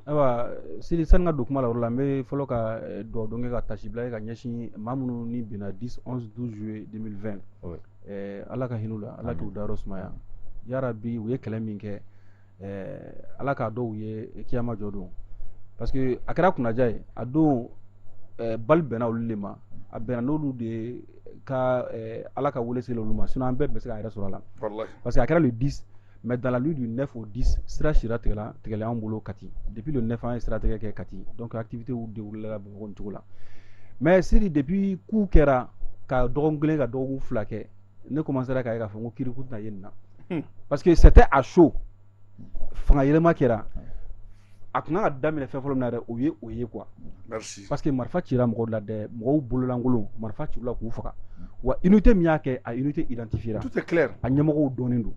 ayiwa sidi sani n ka don kuma la o la n bɛ fɔlɔ ka dugawu don kɛ ka taasibila kɛ ka ɲɛsin maa minnu ni binna 10 11 12 juillet 2020 oui. eh, ala ka hin'u la ala k'u dayɔrɔ sumaya yarabi u ye kɛlɛ min kɛ eh, ala k'a dɔ u ye kiyama jɔ don parce que a kɛra kunnaja ye a don eh, balle bɛnna olu de ma a bɛnna n'olu de ye ka eh, ala ka wele sela olu ma sinon an bɛɛ bɛ se k'a yɛrɛ sɔrɔ a la Wallahi. parce que a kɛra le 10 mais dans la nuit du neuf au dix sira sira tigɛla an bolo kati depuis le neuf an ye sira tigɛ kɛ kati donc activitéw déroulé la bamakɔ nin cogo la mais Sidi depuis coup kɛra ka dɔgɔkun kelen ka dɔgɔkun fila kɛ ne commencera k'a ye k'a fɔ ko kiri ko tɛna ye nin na hmm. parce que c'était à chaud fanga yɛlɛma kɛra a tun ka kan ka daminɛ fɛn fɔlɔ min na dɛ o ye o ye quoi parce que marifa cira mɔgɔw la dɛ mɔgɔw bololankolon marifa cir'u la k'u faga wa unité min y'a kɛ a unité identifiera a ɲɛmɔgɔw dɔnnen don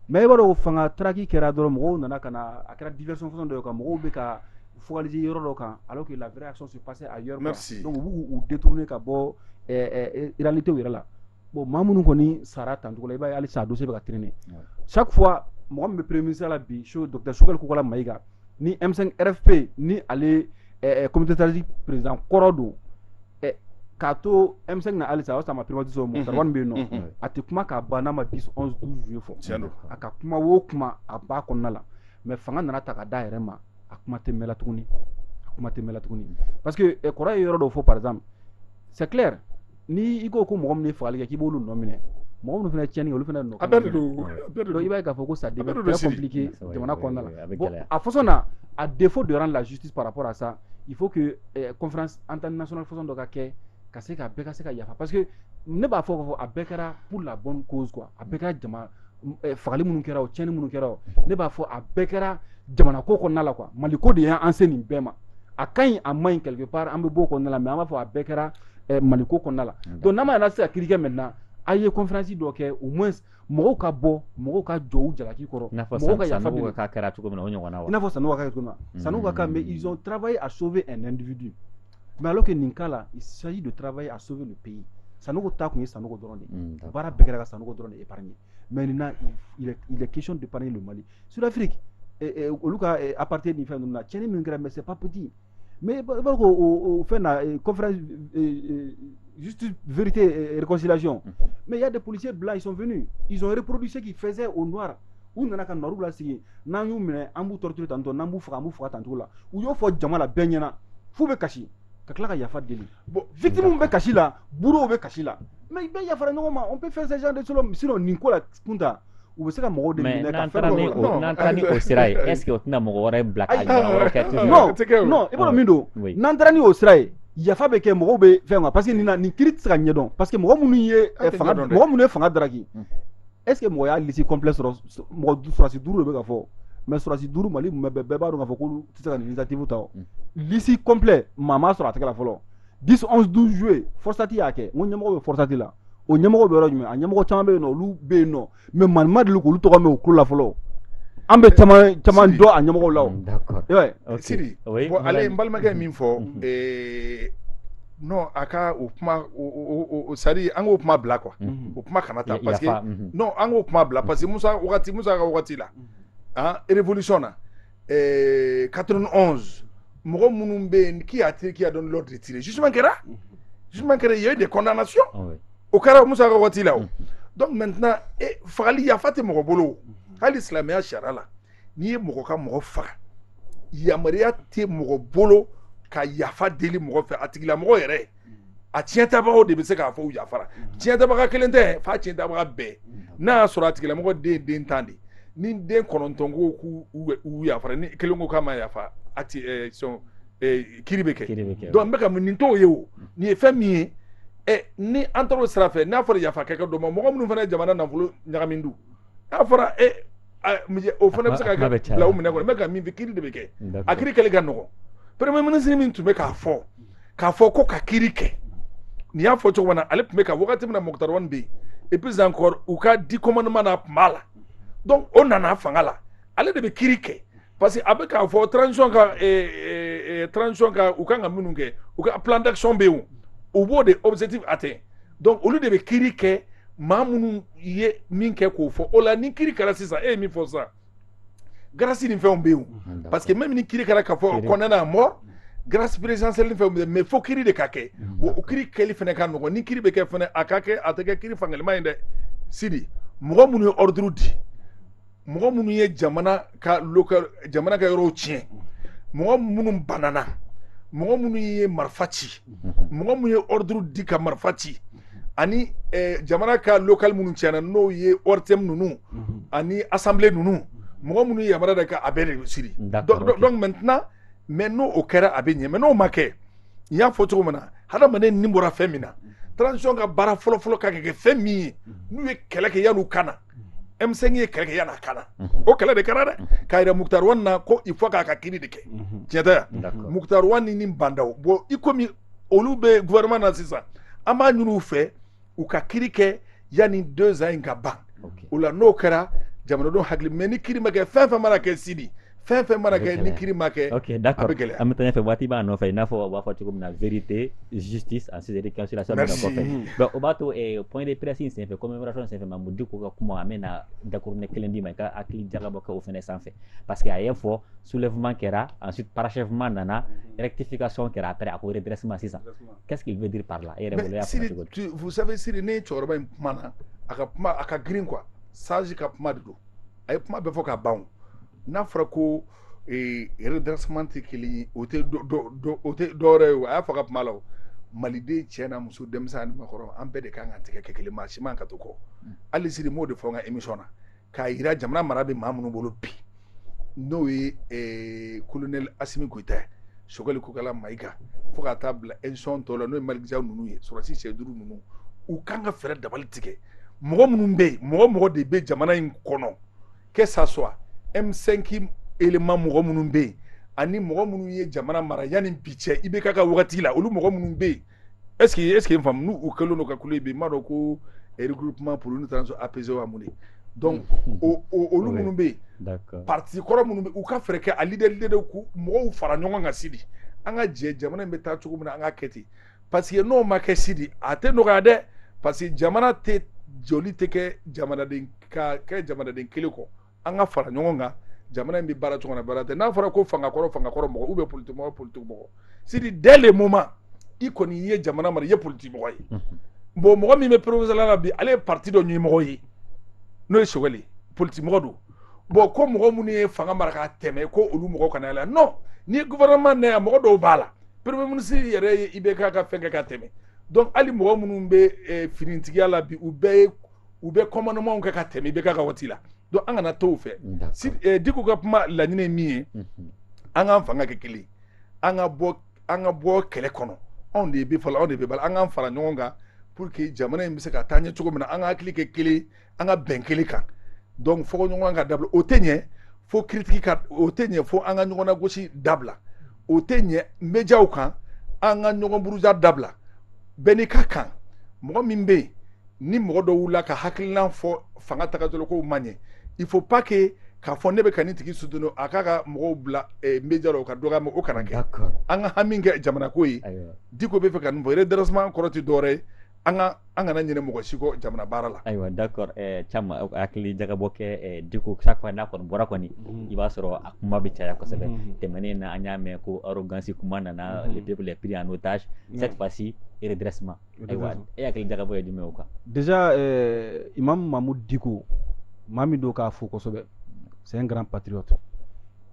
mais i b'a dɔn fanga taraki kɛra dɔrɔn mɔgɔw nana ka na a kɛra diversion façon dɔ kan mɔgɔw bɛ ka focaliser yɔrɔ dɔ kan alors que la vraie action se passe ailleurs donc u b'u détourner ka bɔ réalité yɛrɛ la bon maa minnu kɔni sara tancogo la i b'a ye halisa a dossier bɛ ka traîner chaque fois mɔgɔ min bɛ premier ministre la bi so docteur Sogɛli Kokala Mayiga ni M5 RFP ni ale ɛɛ comité stratégique président kɔrɔ don ɛ k'a to M5 na halisa o y'a sɔrɔ a ma privatiser o mɔgɔ min bɛ yen nɔ a tɛ kuma k'a ban n'a ma 10 11 12 juillet fɔ tiɲɛ don a ka kuma o kuma a b'a kɔnɔna la mais fanga nana ta ka d'a yɛrɛ ma a kuma tɛ mɛn la tuguni a kuma tɛ mɛn la tuguni parce que kɔrɔ ye yɔrɔ dɔ fɔ par exemple c'est clair ni i ko ko mɔgɔ min faga kɛ k'i b'olu nɔ minɛ mɔgɔ minnu fana cɛnɲɛni olu fana i b'a k'a fɔ ko sa jamana a fo na a de fo dɔrɔn lajisiti para sa i fo an tan nas fo dɔ ka kɛ ka se ka ka se ka yafa pa que ne b'a fɔ' fɔ a bɛɛ kɛra' la bɔ ko a bɛ ka jama eh, fagali minnu kɛra o tiɲɛni minnu kɛra o ne b'a fɔ a bɛɛ kɛra jamana ko kɔnɔna la quoi mali ko de y'an se nin bɛɛ ma a ka ɲi a man ɲi quelque part an bɛɛ b'o kɔnɔna la mais an b'a fɔ a bɛɛ kɛra eh, mali ko kɔnɔna la donc n'a ma yɛrɛ se ka kiri kɛ maintenant a ye conférence dɔ kɛ au moins mɔgɔw ka bɔ mɔgɔw ka jɔ u jalaki kɔrɔ mɔgɔw ka yafa deli k'a kɛra cogo min na o ɲɔgɔnna wa i n'a fɔ Sanogo ka kɛ cogo min na Sanogo ka mais ils ont travaillé à sauver un individu mɛ alo kɛ nin k'a la saji don taraweleraba ye a so bɛ pe ye sanu ta tun ye sanu dɔrɔn de baara bɛɛ kɛra ka sanu dɔrɔn de e ye mɛ nin na kec de ban don mali sudafiri olu ka apte ni fɛn na cɛnɲɛn min kɛra mɛ se papti mɛ b'a ko fɛn kɔfɛ vte rekɔsilacɔn mɛ ya de polisi bila isɔnf izɔnporodusi k'i fɛnsɛn o nɔ u nana ka noirw lasigi n'an y'u minɛ an b'u torturer tantôt n'an b'u faga an b'u faga tancogo la u y'o fɔ jama la bɛɛ ɲɛna f'u bɛ kasi ka tila ka yafa deli bon victime bɛ kasi la bourreau bɛ kasi la mais bɛɛ yafara ɲɔgɔn ma on peut faire ce genre de choses sinon nin ko la kunta u bɛ se ka mɔgɔw de minɛ ka fɛn dɔ la n'an taara ni o sira ye est ce que o tɛna mɔgɔ wɛrɛ bila k'a ɲɔgɔn wɛrɛ kɛ toujours non non i b'a dɔn min don n'an taara ni o sira ye yafa bɛ kɛ mɔgɔw bɛ fɛn kan parce que nin na nin kiri tɛ se ka ɲɛdɔn parce que mɔgɔ minnu ye fanga mɔgɔ minnu ye fanga taraki est-ce que mɔgɔ y'a liste complet sɔrɔ mɔgɔ surasi duuru de bɛ ka fɔ mais surasi duuru mali mumɛ bɛɛ b'a dɔn k'a fɔ k'olu tɛ se ka nin initiative ta o liste complet maa m'a sɔrɔ a tɛgɛ la fɔlɔ 10 11 12 juillet FORSAT y'a kɛ n ko ɲɛmɔgɔ bɛ FORSAT la o ɲɛmɔgɔ bɛ yɔrɔ jumɛn a ɲɛmɔgɔ caman bɛ yen nɔ olu bɛ yen nɔ mais maa ma deli k'olu tɔgɔ mɛn u tulo la fɔlɔ an bɛ caman caman dɔn a ɲɛmɔgɔw la o sidi ale n balimakɛ min fɔ non a ka o kuma o c'est à dire an k'o kuma bila quoi mhm. o kuma kana ta parce que mhm. non an k'o kuma bila parce que Musa wagati Musa ka wagati la mhm. an révolution na ɛɛ 91 mɔgɔ minnu bɛ yen qui a tiré qui a donné l'ordre de tirer jugement kɛra jugement kɛra il y a eu des condamnations ah o kɛra Musa ka wagati la o donc maintenant fagali yafa tɛ mɔgɔ bolo hali silamɛya sariya la n'i ye mɔgɔ ka mɔgɔ faga yamaruya tɛ mɔgɔ bolo ka yafa deli mɔgɔ fɛ a tigilamɔgɔ yɛrɛ a tiɲɛtabagaw de bɛ se k'a fɔ u yafara tiɲɛtabaga kelen tɛ f'a tiɲɛtabaga bɛɛ n'a y'a sɔrɔ a tigilamɔgɔ den ye den tan de ni den kɔnɔntɔn ko k'u yafara ni kelen ko k'a ma yafa a ti sɔn kiri bɛ kɛ donc n bɛ ka mun nin tɔw ye o nin ye fɛn min ye ɛ ni an taara o sira fɛ n'a fɔra yafa kɛ ka dɔn mɔgɔ minnu fana ye jamana nafolo ɲagami dun n'a fɔra e o fana bɛ se ka bila minɛ kɔnɔ n bɛ ka min fɛ kiri de bɛ kɛ a kiri kɛli ka nɔgɔ premier ministre min tun bɛ k'a fɔ k'a fɔ ko ka kiri kɛ n y'a fɔ cogo min na ale tun bɛ ka wagati min na Moctar Ouane bɛ yen et puis encore u ka dix commandements na tun b'a la donc o nana fanga la ale de bɛ kiri kɛ parce que a bɛ k'a fɔ transition ka transition ka u kan ka minnu kɛ u ka plan d'action bɛ yen u b'o de objectif atteint donc olu de bɛ kiiri kɛ maa minnu ye min kɛ k'o fɔ o la ni kiiri kɛra sisan e ye min fɔ sisan grâce ni fɛnw bɛ yen parce que même ni kiiri kɛra k'a fɔ condamné à mort grâce présidentielle ni fɛnw bɛ yen mais fo kiiri de ka kɛ wa o kiiri kɛli fana ka nɔgɔn ni kiiri bɛ kɛ fana a ka kɛ a tɛ kɛ kiiri fankelenma ye dɛ sidi mɔgɔ minnu ye ordre di mɔgɔ minnu ye jamana ka jamana ka yɔrɔw tiɲɛ mɔgɔ minnu banana mɔgɔ minnu ye marifa ci mɔgɔ minnu ye ordre di ka marifa ci ani eh, jamana ka local minnu tiɲɛna n'o ye ORTM ninnu ani assemblée ninnu mɔgɔ minnu ye yamaruya da ka a bɛɛ de siri donc maintenant mais n'o o kɛra a bɛ ɲɛ mais n'o ma kɛ n y'a fɔ cogo min na hadamaden ni bɔra fɛn min na transition ka baara fɔlɔfɔlɔ ka kɛ fɛn min ye n'u ye kɛlɛ kɛ yan'u ka na M5 ye kɛlɛ kɛ yan'a ka na o kɛlɛ de kɛra dɛ k'a yira Moctar Ouane na ko il faut k'a ka kiiri de kɛ tiɲɛ tɛ yan Moctar Ouane ni Bah N'Daw bon i komi olu bɛ gouvernement na sisan an b'a ɲini u fɛ u ka kiiri kɛ yanni deux ans in ka ban o la n'o kɛra jamanadenw hakili mais ni kiiri ma kɛ fɛn fɛn mana kɛ sidi fɛn fɛn mana kɛ ni kiri ma kɛ ok d'accord an bɛ taa ɲɛfɛ waati b'an nɔfɛ i n'a fɔ u b'a fɔ cogo min na vérité justice ensuite réconciliation bɛ kɔfɛ donc o b'a to eh, point de presse in senfɛ commémoration senfɛ Mamu Diko ka kuma an bɛna dakuruɲɛ kelen d'i ma i ka hakili jagabɔ kɛ o fɛnɛ sanfɛ parce que a y'a fɔ soulèvement kɛra ensuite parachèvement nana rectification kɛra après a ko redressement sisan qu'est-ce qu'il veut dire par là e yɛrɛ bolo i y'a faamu cogo di vous savez Sidi ne cɛkɔrɔba in kuma na a ka kuma a ka girin quoi sage ka kuma de don a ye kuma bɛɛ fɔ ka ban n'a fɔra ko redressement tɛ kelen ye o tɛ o tɛ dɔwɛrɛ ye o a y'a fɔ ka kuma la o maliden cɛ n'a muso denmisɛn ani maakɔrɔ an bɛɛ de kan ka tigɛ kɛ kelen maa si man ka to kɔ hali Sidi n b'o de fɔ n ka émission na k'a yira jamana mara bɛ maa minnu bolo bi n'o ye colonel Asimi Goyita ye Sogɛli Kokala Mayiga fo ka taa bila institution tɔw la n'o ye Maliki Jawu ninnu ye sɔrɔdasi cɛ duuru ninnu u kan ka fɛɛrɛ dabali tigɛ mɔgɔ minnu bɛ yen mɔgɔ mɔgɔ de bɛ jamana in kɔnɔ que ça soit M5 élément mɔgɔ minnu bɛ yen ani mɔgɔ minnu ye jamana mara yanni bi cɛ IBK ka wagati la olu mɔgɔ minnu bɛ yen est ce que est ce que n faamu n'u kɛlen don ka kule bi n b'a dɔn ko regroupement pour une transition apaisée wa mun de donc o o olu minnu bɛ yen parti kɔrɔ minnu bɛ u ka fɛɛrɛ kɛ a leader leader k'u mɔgɔw fara ɲɔgɔn kan Sidi an ka jɛ jamana in bɛ taa cogo min na an ka kɛ ten parce que n'o ma kɛ Sidi a tɛ nɔgɔya dɛ parce que jamana tɛ jɔli tɛ kɛ jamanaden ka kɛ jamanaden kelen kɔ an ka fara ɲɔgɔn kan jamana in bɛ baara cogo na baara ten n'a fɔra ko fanga kɔrɔ fanga kɔrɔ mɔgɔ ou bien politiki mɔgɔ politiki mɔgɔ Sidi dès le moment i kɔni i ye jamana mara i ye politiki mɔgɔ ye bon mɔgɔ min bɛ primature la bi ale ye parti dɔ ɲɛmɔgɔ ye n'o ye Sogɛli ye politiki mɔgɔ don bon ko mɔgɔ minnu ye fanga mara ka tɛmɛ ko olu mɔgɔ kana yɛlɛ non nin gouvernement na yan mɔgɔ dɔw b'a la premier ministre yɛrɛ ye IBK ka fɛn kɛ ka tɛmɛ donc hali mɔgɔ minnu bɛ eh, finitigiya la bi u bɛɛ ye u bɛ commandementw kɛ ka tɛmɛ IBK ka waati la donc an kana to o fɛ si eh, Diko ka kuma laɲini ye min ye mhm. an k'an fanga kɛ kelen an ka bɔ an ka bɔ kɛlɛ kɔnɔ anw de ye bɛ fɔlɔ anw de bɛ bala an k'an fara ɲɔgɔn kan pour que jamana in bɛ se ka taa ɲɛ cogo min na an ka hakili kɛ kelen an ka bɛn kelen kan donc fɔɲɔgɔnkɔ ka dabila o tɛ ɲɛ fo critique ka o tɛ ɲɛ fo an ka ɲɔgɔn lagosi dabila o tɛ ɲɛ médiaw kan an ka ɲɔgɔn buruja dabila bɛɛ n'i ka kan mɔgɔ min bɛ yen ni mɔgɔ dɔ wulila k'a hakilina fɔ fanga tagabolokow ma ɲɛ il faut pas que k'a fɔ ne bɛ ka nin tigi soutenu a k'a ka mɔgɔw bila eh, média la o ka dɔgɔya ma o kana kɛ an ka hami kɛ jamanako ye Diko bɛ fɛ ka nin fɔ redressement kɔrɔ tɛ dɔwɛrɛ ye an ka an kana ɲinɛ mɔgɔ si kɔ jamana baara la ayiwa d'accord eh, Thiam eh, hakili jagabɔ kɛ eh, Dicko chaque fois n'a kɔni bɔra kɔni mm-hmm. i b'a sɔrɔ a kuma bɛ caya kosɛbɛ mm-hmm. tɛmɛnen na an y'a mɛn ko arrogance kuma nana mm-hmm. le peuple est pris en otage cette fois-ci redressement ayiwa e hakili jagabɔ ye jumɛn o kan déjà imam Mahmoud Dicko maa min don k'a fo kosɛbɛ c'est un grand patriote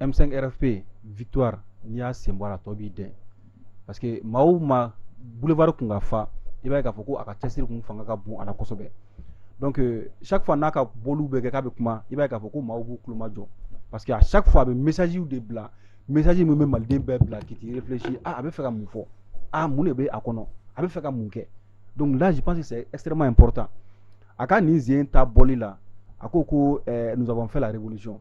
m5 rfp victoire n'i y'a sen bɔ a la tɔ b'i dɛn parce que maa o maa boulevard kun ka fa i b'a ye k'a fɔ ko a ka cɛsiri kun fanga ka bon a la kosɛbɛ donc euh, chaque fois n'a ka bɔliw bɛ kɛ k'a bɛ kuma i b'a ye k'a fɔ ko maaw b'u tulo majɔ parce que à chaque fois a bɛ message de bila message min bɛ maliden bɛɛ bila k'i t'i réfléchir ah a bɛ fɛ ka mun fɔ ah mun de bɛ a kɔnɔ a bɛ fɛ ka mun kɛ donc là je pense que c'est extrêmement important a ka nin sen ta bɔli la a ko ko euh, nous avons fait la révolution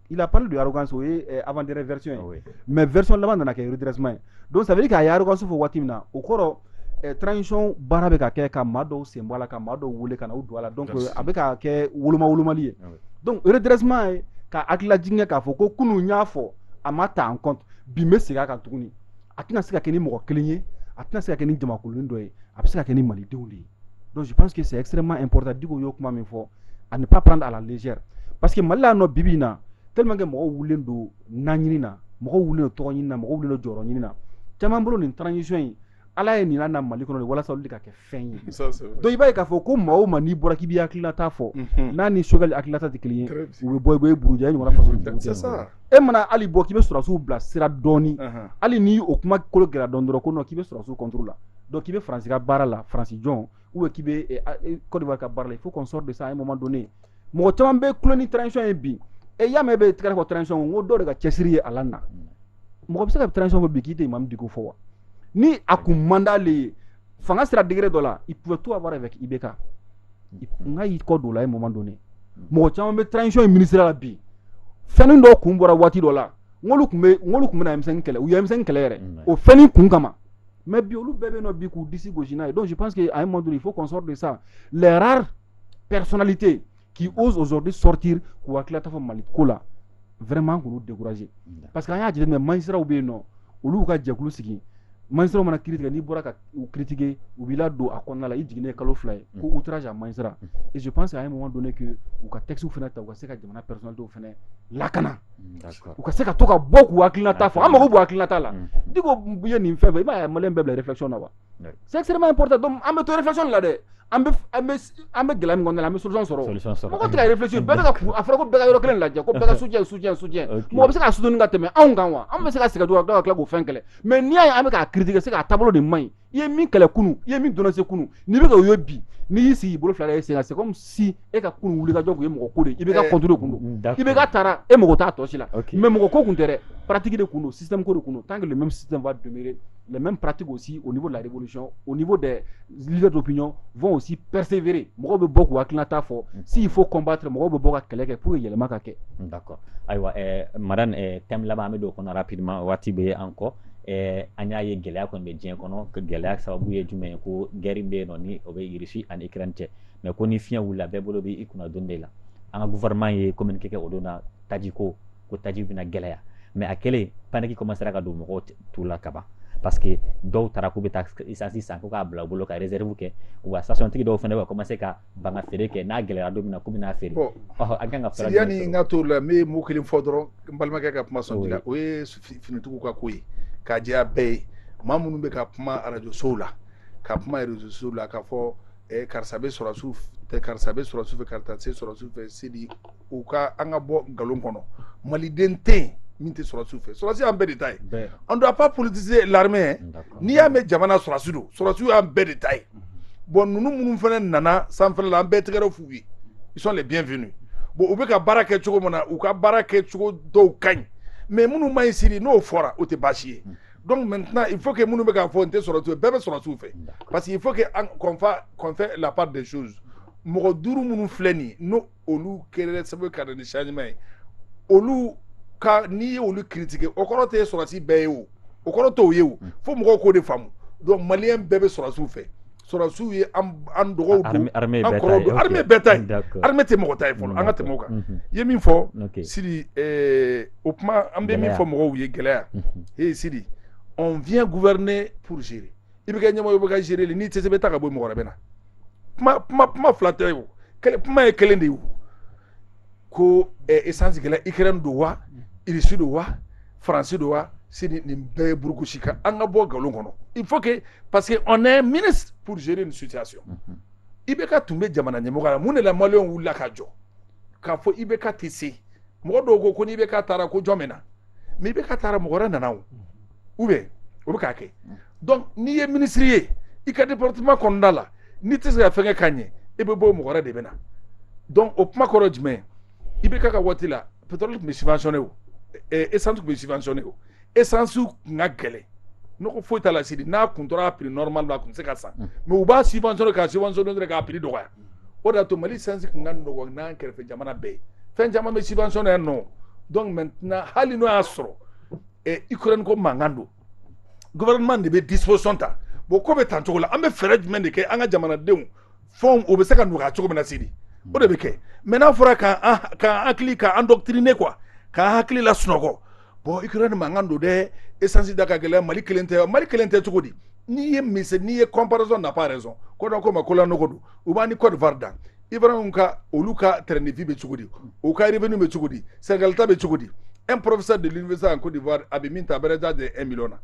il a parlé de arrogance o ye eh, avant dernière version ye ah oui. mais version laban nana kɛ redressement ye donc ça veut dire que a ye arrogance fɔ waati min na o kɔrɔ eh, transition baara bɛ ka kɛ ka maa dɔw sen bɔ a la ka maa dɔw wele ka na u don a la donc a bɛ ka kɛ woloma wolomali ye Ah oui. donc redressement ye ka hakililajigin kɛ k'a fɔ ko kunun n y'a fɔ a ma ta en compte bi n bɛ segin a kan tuguni a tɛna se ka kɛ ni mɔgɔ kelen ye a tɛna se ka kɛ ni jamakulunin dɔ ye a bɛ se ka kɛ ni malidenw de ye donc je pense que c'est extrêmement important Dicko y'o kuma min fɔ à ne pas prendre à la légère parce que Mali la nɔ bibi in na tellement que mɔgɔw wulilen don naɲini na mɔgɔw wulilen don tɔgɔ ɲini na mɔgɔw wulilen don jɔyɔrɔ ɲini na caman bolo nin transition in ala ye nin na Mali kɔnɔ de walasa olu de ka kɛ fɛn ye donc i b'a ye k'a fɔ ko maa o maa n'i bɔra k'i b'i hakilinata fɔ n'a ni Choguel hakilinata tɛ kelen ye u bɛ bɔ i bɛ buruja i ɲɔgɔnna faso e mana hali bɔ k'i bɛ sɔrɔsiw bila sira dɔɔni hali ni o kuma kolo gɛlɛya dɔɔni dɔrɔn ko non k'i bɛ sɔrɔsiw contre la donc k'i bɛ France ka baara la France jɔn ou bien k'i bɛ Côte d'Ivoire ka baara la il faut qu'on sorte de ça à un moment donné mɔgɔ caman bɛ kulo ni transition ye bi e y'a mɛn e bɛ tigɛrɛ fɔ transition n ko dɔw de ka cɛsiri ye a lana mɔgɔ bɛ se ka transition fɔ bi k'i tɛ Imam Dicko fɔ wa ni a kun man d'ale ye fanga sera degré dɔ la il pouvait tout avoir avec IBK nka y'i kɔ don o la à un moment donné mɔgɔ caman bɛ transition in ministre la bi fɛnnin dɔw kun bɔra waati dɔ la n k'olu tun bɛ n k'olu tun bɛ na M5 kɛlɛ u ye M5 kɛlɛ yɛrɛ o fɛnnin kun kama mais bi olu bɛɛ bɛ yen nɔ bi k'u disi gosi n'a ye donc je pense que à un moment donné il faut qu'on sorte de ça les rares personnalités qui osent aujourd'hui sortir k'u hakilinata fɔ Mali ko la vraiment k'olu décourager parce que an y'a jateminɛ magistrats bɛ yen nɔ olu y'u ka jɛkulu sigi magistrats mana kiri tigɛ n'i bɔra ka u critiquer u b'i ladon a kɔnɔna la i jiginnen kalo fila ye ko outrage à magistrat et je pense à un moment donné que u ka textes fana ta u ka se ka jamana personnalités fana lakana u ka se ka to ka bɔ k'u hakilinata fɔ an mago b'u hakilinata la Dicko ye nin fɛn fɛn i b'a ye maliyɛn bɛɛ bila réflexion na wa c'est extrêmement important donc an bɛ to réflexion de la dɛ an bɛ an bɛ an bɛ gɛlɛya min kɔnɔna la an bɛ solution sɔrɔ solution sɔrɔ mɔgɔ tɛ ka réfléchir bɛɛ bɛ ka kun a fɔra ko bɛɛ ka yɔrɔ kelen lajɛ ko bɛɛ ka soutien soutien soutien mɔgɔ bɛ se ka soutenir ka tɛmɛ anw kan wa an bɛ se ka sɛgɛn dɔrɔn ka tila k'o fɛn kɛlɛ mais n'i y'a ye an bɛ k'a critiquer c'est que a taabolo de man ɲi i ye min kɛlɛ kunun i ye min dénoncer kunun n'i bɛ ka o ye bi n'i y'i sigi i bolo fila da i sen kan c'est comme si e ka kun wuli ka jɔ tun ye mɔgɔ ko de i bɛ ka kɔntoro kun don i bɛ ka taara e mɔgɔ t'a tɔsi la mɛ mɔgɔ ko tun tɛ paratigi de kun don sisan ko de kun tan kelen sisanfa duuru mɛ parati o si o ko laribaolisiɔn o ko dɛ dɔ bɛyɔn fɔ si pɛsifeere mɔgɔ bɛ bɔ k a tilala' fɔ si fo kɔnba mɔgɔ bɛ bɔ ka kɛlɛ kɛ k'u ye yɛlɛma ka kɛ ayiwa mara tɛmɛ laban bɛ don kɔnɔra pma waati bɛ ye an kɔ an y'a ye gɛlɛya kɔni bɛ diɲɛ kɔnɔ gɛlɛya sababu ye jumɛn ye ko grin bɛ yen nɔ o bɛ yirisi ani ni kiran cɛ mais ko ni fiɲɛ wulila bɛɛ bolo bɛ i kunna don de la an ka gouvernement ye communiqué kɛ o don na taji ko ko taji bɛna gɛlɛya mais a kɛlen panique commencera ka don mɔgɔw tu la kaban parce que dɔw taara k'u bɛ taa essence san ko k'a bila u bolo ka réserve kɛ wa stationtigi dɔw fana bɛ commencer ka banga feere kɛ n'a gɛlɛyara don min na k'u bɛna feere an kan ka fɛɛrɛ yanni n ka t'o la n bɛ mot kelen fɔ dɔrɔn n balimakɛ ka kuma sɔnti la o ye finitigiw ka ko ye k'a jɛya bɛɛ ye maa minnu bɛ ka kuma arajo sow la ka kuma réseau sow la k'a fɔ eh, karisa bɛ sɔrɔsiw eh, karisa bɛ sɔrɔsiw fɛ karisa tɛ sɔrɔsiw fɛ Sidi u ka an ka bɔ nkalon kɔnɔ maliden tɛ yen min tɛ sɔrɔsiw fɛ sɔrɔsi y'an bɛɛ de ta ye on doit pas politiser l'armée n'i y'a mɛn jamana sɔrɔsi don sɔrɔsiw y'an bɛɛ de ta ye bon ninnu minnu fana nana sanfɛla la an bɛ tɛgɛrɛ f'u ye ils sont les bienvenus bon u bɛ ka baara kɛ cogo min na u ka baara kɛ cogo dɔw ka ɲi mais minnu man ɲi Sidi n'o fɔra o tɛ baasi ye donc maintenant il faut que minnu bɛ k'a fɔ n tɛ sɔrɔsiw fɛ bɛɛ bɛ sɔrɔsiw fɛ parce que il faut que an qu'on fa qu'on fait la part des choses mɔgɔ duuru minnu filɛ nin ye ni olu kɛra sababu ka na ni changement ye olu ka n'i ye olu critiquer o kɔrɔ tɛ sɔrɔsi bɛɛ ye o o kɔrɔ t'o ye o fo mɔgɔw k'o de faamu donc maliyɛn bɛɛ bɛ sɔrɔsiw fɛ sɔrɔsiw ye an dɔgɔw don an kɔrɔw don armée bɛɛ ta ye armée tɛ mɔgɔ ta ye fɔlɔ an ka tɛmɛ o kan i ye min fɔ Sidi o kuma an bɛ min fɔ mɔgɔw ye gɛlɛya ee Sidi on vient gouverner pour gérer i bɛ kɛ ɲɛmɔgɔ ye i bɛ ka gérer n'i tɛ se i bɛ taa ka bɔ yen mɔgɔ wɛrɛ bɛ na kuma kuma kuma fila tɛ o kuma ye kelen de ye o ko essence gɛlɛn Ukraine don wa irisi don wa faransi don wa Sidi nin bɛɛ ye burukusi kan an ka bɔ nkalon kɔnɔ il faut que parce que on est ministre pour gérer une situation IBK tun bɛ jamana ɲɛmɔgɔ la mun de la maliyɛnw wulila ka jɔ k'a fɔ IBK tɛ se mɔgɔ dɔw ko ko ni IBK taara ko jɔn bɛ na mais IBK taara mɔgɔ wɛrɛ nana u bɛ o bɛ k'a kɛ dɔn n'i ye minisiriri ye i ka di porotima kɔnɔnada la n'i tɛ se ka fɛn ka ɲɛ e bɛ bɔ o mɔgɔ de bɛ na dɔn o kuma kɔrɔ jumɛn i bɛ ka ka waati la pto tun bɛ sifasɔn o e san tun bɛ sifasɔni o e sansiw tun ka gɛlɛn n ko foyi ta la siri n'a kun tora p nɔrɔma la a tun bɛ se ka sa mɛ u b'a sifasɔn ka sifasɔn dɔrɔn k'a piri dɔgɔya o de y'a to mali sansi tun ka nɔgɔ n' kɛrɛfɛ jamana bɛɛ ye fɛn caman bɛ sifasɔn yan nɔ dɔn tɛna hali n'o y'a sɔrɔ ɛ Ukraine ko mankan don gouvernement de bɛ disposition ta bon ko bɛ tan cogo la an bɛ fɛɛrɛ jumɛn de kɛ an ka jamanadenw fɛnw o bɛ se ka nɔgɔya cogo min na sidi o de bɛ kɛ mais n'a fɔra k'an k'an hakili k'an endoctriner quoi k'an hakili lasunɔgɔ bon Ukraine mankan don dɛ essence da ka gɛlɛn mali kelen tɛ mali kelen tɛ cogo di n'i ye mise n'i ye comparaison n'a pas raison ko da ko ma ko lanɔgɔ don u b'an ni Côte d'Ivoire dan ibrahim ka olu ka train de vie bɛ cogo di u ka revenu bɛ cogo di Sénégal ta bɛ cogo di un professeur de l'université en Côte d'Ivoire a bɛ min ta a bɛrɛ t'a de 1 million na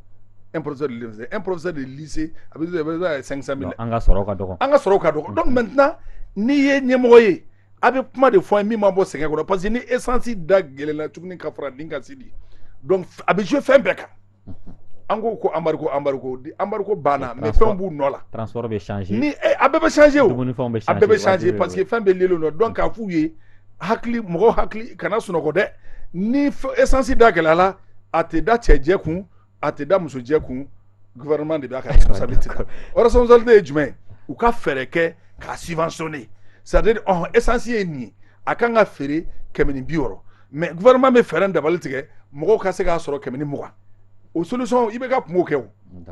un professeur de l'université un professeur de lycée a bɛ t'a de 500 000 an ka sɔrɔ ka dɔgɔ an ka sɔrɔ ka dɔgɔ donc maintenant n'i ye ɲɛmɔgɔ ye a bɛ kuma de fɔ an ye min ma bɔ sɛgɛn kɔnɔ parce que ni essence da gɛlɛla tuguni ka fara nin kan sidi donc a bɛ jouer fɛn bɛɛ kan an ko ko embargo embargo embargo banna mais fɛnw b'u nɔ la transport bɛ changer ni eh, a bɛɛ bɛ changer o dumunifɛnw bɛ changer a bɛɛ bɛ changer parce que fɛn bɛɛ liélen don donc k'a f'u ye hakili mɔgɔw hakili kana sunɔgɔ dɛ ni essence da gɛlɛyala a tɛ da cɛ jɛ kun a tɛ da muso jɛ kun gouvernement de b'a ka responsabilité ta o responsabilité ye jumɛn ye u ka fɛɛrɛ kɛ k'a subventionner c'est à dire ɔhɔn essence ye nin ye a kan ka feere kɛmɛ ni bi wɔɔrɔ mɛ vma bɛ fɛɛrɛ dabali tigɛ mɔgɔ ka se k'a sɔrɔ kɛmɛ ni mɔgɔ o solisɔn i bɛ ka kungo kɛ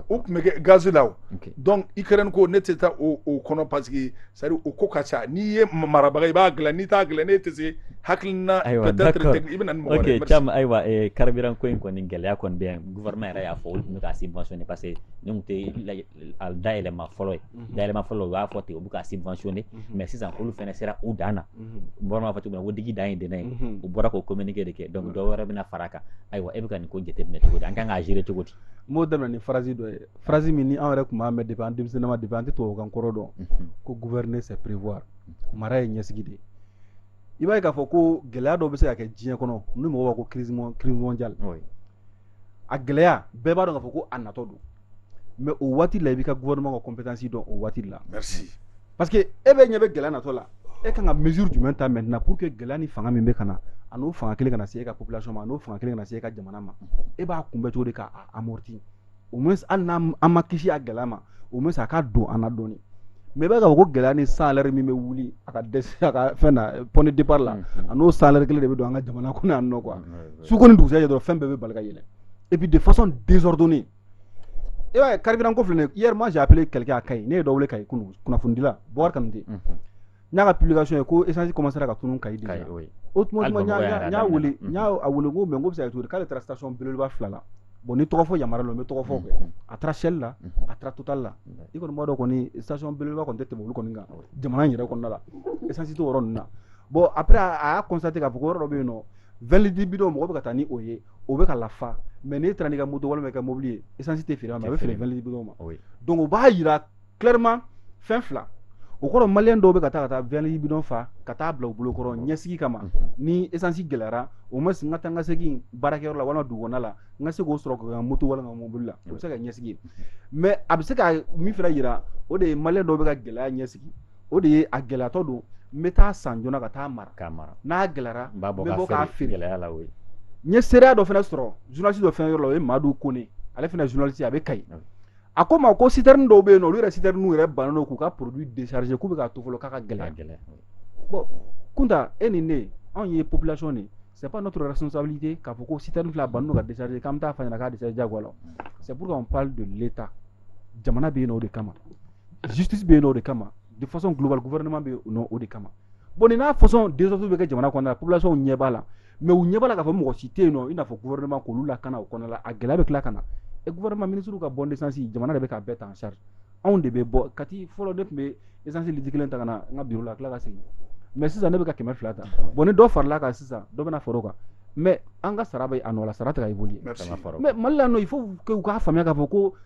o tun bɛ kɛ ganzeina o dɔn i kɛrarɛn ko ne tɛ taa o kɔnɔ pa que sari u ko ka ca n'i ye marabaga i b'a dilan n'i t'a dilan ne tɛ se hakilikiina ayiwa i bɛ caman ayiwa kari ko in kɔni gɛlɛya kɔni bɛ yan vma yɛrɛ y'a fɔ olu tun bɛ' se bɔnsɔn pa que tɛ dayɛlɛma fɔlɔ ye mhm. dayɛlɛma fɔlɔ u b'a fɔ ten u bɛ k'a subventionner mhm. mais sisan olu fana sera u dan na mhm. bɔra b'a fɔ cogo min na ko digi dan ye dɛnɛ ye u bɔra k'o communiqué de kɛ donc dɔ wɛrɛ bɛna fara a kan ayiwa e bɛ ka nin ko jateminɛ cogo di an kan k'a gérer cogo di n b'o daminɛ ni phrase dɔ ye phrase min ni an yɛrɛ tun b'a mɛn depuis an denmisɛnninma depuis an tɛ tubabukan kɔrɔ dɔn ko gouverner c'est prévoir mara ye ɲɛsigi de ye i b'a ye k'a fɔ ko gɛlɛya dɔ bɛ se ka kɛ diɲɛ kɔnɔ ni mɔgɔw b'a ko crise mondiale a gɛlɛya bɛɛ b'a dɔn k'a fɔ ko a natɔ don mais o waati la i b'i ka gouvernement ka compétence dɔn o waati la parce que e bɛ ɲɛ bɛ gɛlɛya natɔ la e ka kan ka mesure jumɛn ta maintenant pour que gɛlɛya ni fanga min bɛ ka na a n'o fanga kelen kana se e ka population ma n'o fanga kelen kana se e ka jamana ma e b'a kunbɛn cogo di k'a amortir au moins hali n'an ma kisi a gɛlɛya ma au moins a ka don an na dɔɔnin mais i b'a ye k'a fɔ ko gɛlɛya ni chaleur min bɛ wuli a ka dɛsɛ ka fɛn na point de départ la a n'o chaleur kelen de bɛ don an ka jamana kɔnɔ su ko ni dugusɛjɛ dɔrɔn fɛn bɛɛ bɛ bari ka yɛlɛ et puis de façon désordonnée e b'a ye carburant ko filɛ hier moi j'ai appelé quelqu'un à Kayi ne ye dɔ wele Kayi kunu kunnafonidila Boubacar Kanute n y'a ka publication ye ko essence commencera ka tunun Kayi déjà o tuma tuma n y'a wele n y'a a wele ko mais n k'o bɛ se ka kɛ cogo di k'ale taara station belebeleba fila la bon ni tɔgɔ fɔ yamaruyala n bɛ tɔgɔ fɔ quoi a taara Shell la a taara Total la i kɔni b'a dɔn kɔni station belebeleba kɔni tɛ tɛmɛ olu kɔni kan jamana in yɛrɛ kɔnɔna la essence t'o yɔrɔ ninnu na bon après a y'a constater k'a fɔ ko yɔrɔ dɔ bɛ yen nɔ vingt litres bidon mɔgɔ bɛ ka taa ni o ye o bɛ ka lafa mais n'i taara n'i ka moto walima i ka mobili ye essence tɛ feere ma a bɛ feere vingt litres bidon ma donc o b'a jira clairement fɛn fila o kɔrɔ maliyɛn dɔw bɛ ka taa ka taa vingt litres bidon fa ka taa bila u bolo kɔrɔ ɲɛsigi kama ni essence gɛlɛyara au moins n ka taa n ka segin baarakɛyɔrɔ la walima dugukɔnɔna la n ka se k'o sɔrɔ ka moto walima mobili la o bɛ se ka ɲɛsigi mais a bɛ se ka min fana jira o de ye maliyɛn dɔw bɛ ka gɛlɛya ɲɛsigi o de ye a gɛlɛyatɔ don n bɛ taa san joona ka taa mara k'a mara n'a gɛlɛyara n b'a bɔ n bɛ bɔ k'a k'a feere feere gɛlɛya la o ye n ye seereya dɔ fana sɔrɔ journaliste dɔ fana yɔrɔ la o ye Madu Kone ale fana ye journaliste ye a bɛ Kayi Ok. a ko n ma ko citerne dɔw bɛ yen nɔ olu yɛrɛ citerne yɛrɛ bannen don k'u ka produit décharger k'u bɛ k'a to fɔlɔ k'a ka k'a gɛlɛya gɛlɛya bon Kunta e ni ne anw ye population de ye c'est pas notre responsabilité k'a fɔ ko citerne filɛ a bannen don ka décharger k'an bɛ taa f'a ɲɛna k'a décharger diyagoya la o c'est pourquoi on parle de l'Etat jamana bɛ yen nɔ o de kama justice bɛ yen nɔ o de kama de façon globale gouvernement bɛ yen nɔ o de kama bon nin n'a façon désordre bɛ kɛ jamana kɔnɔna la population ɲɛ b'a la mais u ɲɛ b'a la k'a fɔ mɔgɔ si tɛ yen nɔ i n'a fɔ gouvernement k'olu lakana o kɔnɔna la a gɛlɛya bɛ tila ka na et gouvernement ministre ka bon d'essence jamana de bɛ k'a bɛɛ ta en charge anw de bɛ bɔ Kati fɔlɔ ne tun bɛ essence litre kelen ta ka na n ka bureau la tila ka segin mais sisan ne bɛ ka kɛmɛ fila ta bon ni dɔ farala kan sisan dɔ bɛna far'o kan mais an ka sara bɛ a nɔ la sara tɛ ka évoluer mais Mali la nɔ il faut que u k'a faamuya k'a fɔ ko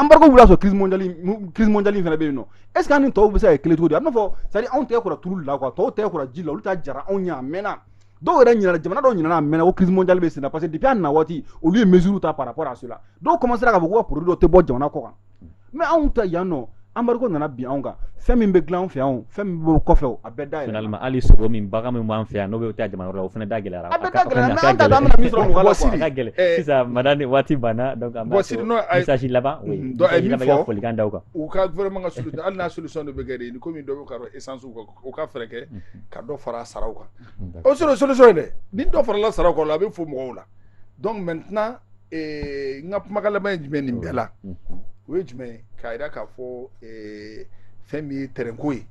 embargo wulila ka sɔrɔ crise mondiale in fana bɛ yen nɔ est-ce que an ni tɔw bɛ se ka kɛ kelen cogo di a b'a fɔ c'est-à-dire anw tɛgɛ kora tulu la quoi tɔw tɛgɛ kora ji la olu ta jara anw ɲɛ a mɛnna dɔw yɛrɛ ɲinana jamana dɔw ɲinana a mɛnna ko crise mondiale bɛ senna parce que depuis a na waati olu ye mesure ta par rapport à cela dɔw commencera k'a fɔ ko ka produit dɔ tɛ bɔ jamana kɔ kan mais anw ta yan nɔ embargo nana bin anw kan fɛn min bɛ dilan anw fɛ yan fɛn min bɛ bɔ kɔfɛ bɛɛ da yɛlɛla. Finalement hali sogo min bagan min b'an fɛ yan n'o bɛ taa jamana wɛrɛ la o fana da gɛlɛyara. A bɛɛ da gɛlɛyara mais an t'a dɔn an bɛna min sɔrɔ mɔgɔ la quoi. A ka gɛlɛn eh. sisan madame waati banna donc an b'a to message laban oui mm-hmm. donc min fɔ ka folikan da u kan. U ka gouvernement ka solution hali n'a solution de bɛ kɛ de komi dɔ bɛ ka don essence u ka u ka fɛɛrɛ kɛ mm-hmm. ka dɔ fara saraw kan. Mm-hmm. O sɔrɔ solution ye dɛ ni dɔ farala saraw kan a bɛ fo mɔgɔw la. donc maintenant ee, n ka kumakan laban ye jumɛn nin bɛɛ la o ye jumɛn ye k'a jira k'a fɔ ee, fɛn min ye tɛrɛnko ye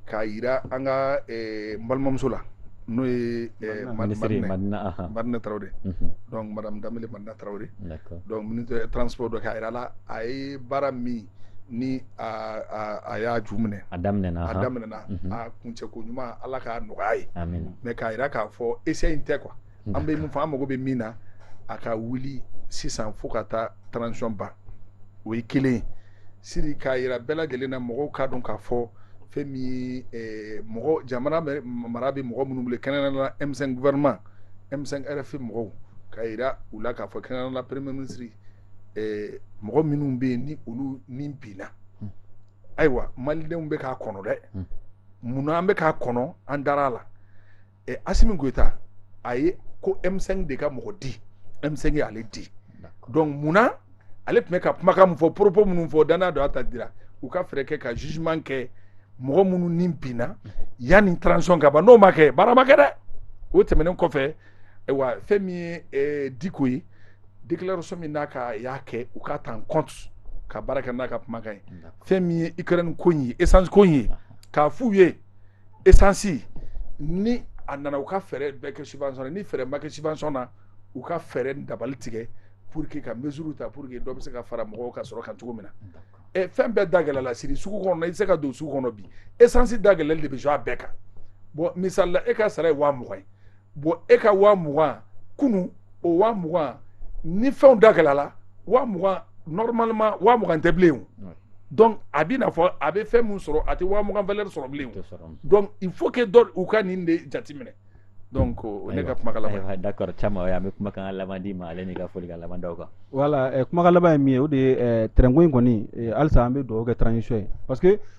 k'a jira an ka ee, n balimamuso la n'o ye ee, Mad- Minisiri Madinɛ- Madina, aha. Madinɛ Tarawele Mhm. donc madame Danbele Madina Tarawele D'accord. donc ministre de transport don k'a jira a la a ye baara min ni a a- a y'a ju minɛ A daminɛna, a aha. daminɛna Mhm. a kuncɛko ɲuman Ala k'a nɔgɔya a ye Amina. mais k'a jira k'a fɔ essai in tɛ quoi an bɛ mun fɔ an mago bɛ min na a ka wuli sisan fo ka taa transition ban o ye kelen ye siri k'a yira bɛɛ lajɛlen na mɔgɔw k'a dɔn k'a fɔ fɛn min ye eh, mɔgɔ jamana mara bɛ mɔgɔ minnu bolo kɛrɛnkɛrɛnnenya la M5 gouvernement M5 RFP mɔgɔw k'a yira u la k'a fɔ kɛrɛnkɛrɛnnenya la premier ministre eh, mɔgɔ minnu bɛ yen ni olu ni binna ayiwa malidenw bɛ k'a kɔnɔ dɛ mun na an bɛ k'a kɔnɔ an dara a la ɛ asimi goyita a ye ko M5 de ka mɔgɔ di M5 ye ale di donc munna ale tun bɛ ka kumakan mun fɔ propos minnu fɔ danaya don a ta dira u ka fɛɛrɛ kɛ ka jugement kɛ mɔgɔ minnu ni binna yanni transition ka ban n'o ma kɛ baara ma kɛ dɛ o tɛmɛnen kɔfɛ ayiwa fɛn min ye eh, diko ye déclaration min n'a ka y'a kɛ u k'a ta en compte ka baara kɛ n'a ka kumakan ye fɛn min ye ukraine ko in ye essence ko in ye k'a f'u ye esansi ni a nana u ka fɛɛrɛ bɛɛ kɛ subvention ni fɛɛrɛ ma kɛ subvention na u ka fɛɛrɛ dabali tigɛ pour que ka mesure ta pour que dɔ bɛ se ka fara mɔgɔw ka sɔrɔ kan cogo min na ɛ fɛn bɛɛ da gɛlɛla siri sugu kɔnɔ i tɛ se ka don sugu kɔnɔ bi esansi da gɛlɛli de bɛ jɔ a bɛɛ kan bon misali la e ka sara ye waa mugan ye bon e ka waa mugan kunu o waa mugan ni fɛnw da gɛlɛyala waa mugan normalement waa mugan tɛ bilen o donc a bɛna fɔ a bɛ fɛn min sɔrɔ a tɛ waa mugan valeur sɔrɔ bilen o donc il faut que dɔ u ka nin de jateminɛ donc o ne ka kumakan laban ye d'accord caman o ye an bɛ kumakan laban d'i ma ale n'i ka folikan laban d'aw kan voilà eh, kumakan laban ye min ye o de ye eh, tɛrɛnko in kɔni eh, halisa an bɛ dugawu kɛ transition ye parce que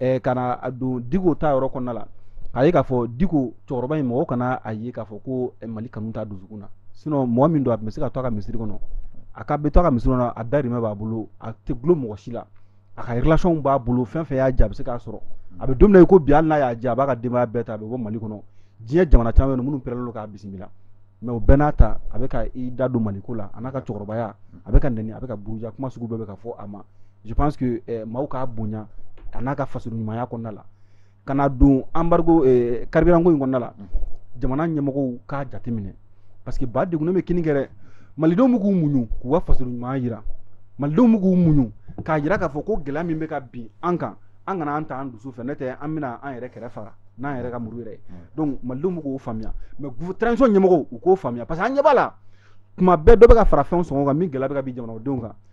eh, ka na don diko ta yɔrɔ kɔnɔna la k'a ye k'a fɔ diko cɛkɔrɔba in mɔgɔ kana a ye k'a fɔ ko eh, mali kanu t'a dusukun na sinon mɔgɔ min don a tun bɛ se ka to a ka misiri kɔnɔ a ka bɛ to a ka misiri kɔnɔ a dayirimɛ b'a bolo a tɛ gulo mɔgɔ si la a ka relation b'a bolo fɛn fɛn y'a diya a bɛ se k'a sɔrɔ a bɛ don min na i ko bi hali n'a y'a diya a b'a ka denbaya bɛɛ ta a bɛ bɔ mali kɔnɔ diɲɛ jamana caman bɛ yen minnu pɛrɛnlen don k'a bisimila mais o bɛɛ n'a ta a bɛ ka i da don maliko la a n'a ka cɛkɔrɔbaya a bɛ ka nɛni a bɛ ka buruja kuma sugu bɛɛ bɛ ka fɔ a ma je pense que eh, maaw k'a bonya a n'a ka faso ɲumanya kɔnɔna la ka na don embargo eh, carburant ko in kɔnɔna la mm. jamana ɲɛmɔgɔw k'a jateminɛ parce que ba degunnen bɛ kinni kɛ dɛ malidenw bɛ k'u muɲu k'u ka faso ɲumanya jira malidenw bɛ k'u muɲu k'a jira k'a fɔ ko gɛlɛya min bɛ ka bin an kan an kana an ta an dusu fɛ n'o tɛ an bɛna an yɛrɛ kɛrɛ fara n'an yɛrɛ ka muru yɛrɛ ye mm. donc malidenw bɛ k'o faamuya mais transition ɲɛmɔgɔw u k'o faamuya parce que an ɲɛ b'a la tuma bɛɛ dɔ bɛ ka fara fɛnw sɔngɔ kan min gɛlɛya bɛ ka bin jamanadenw kan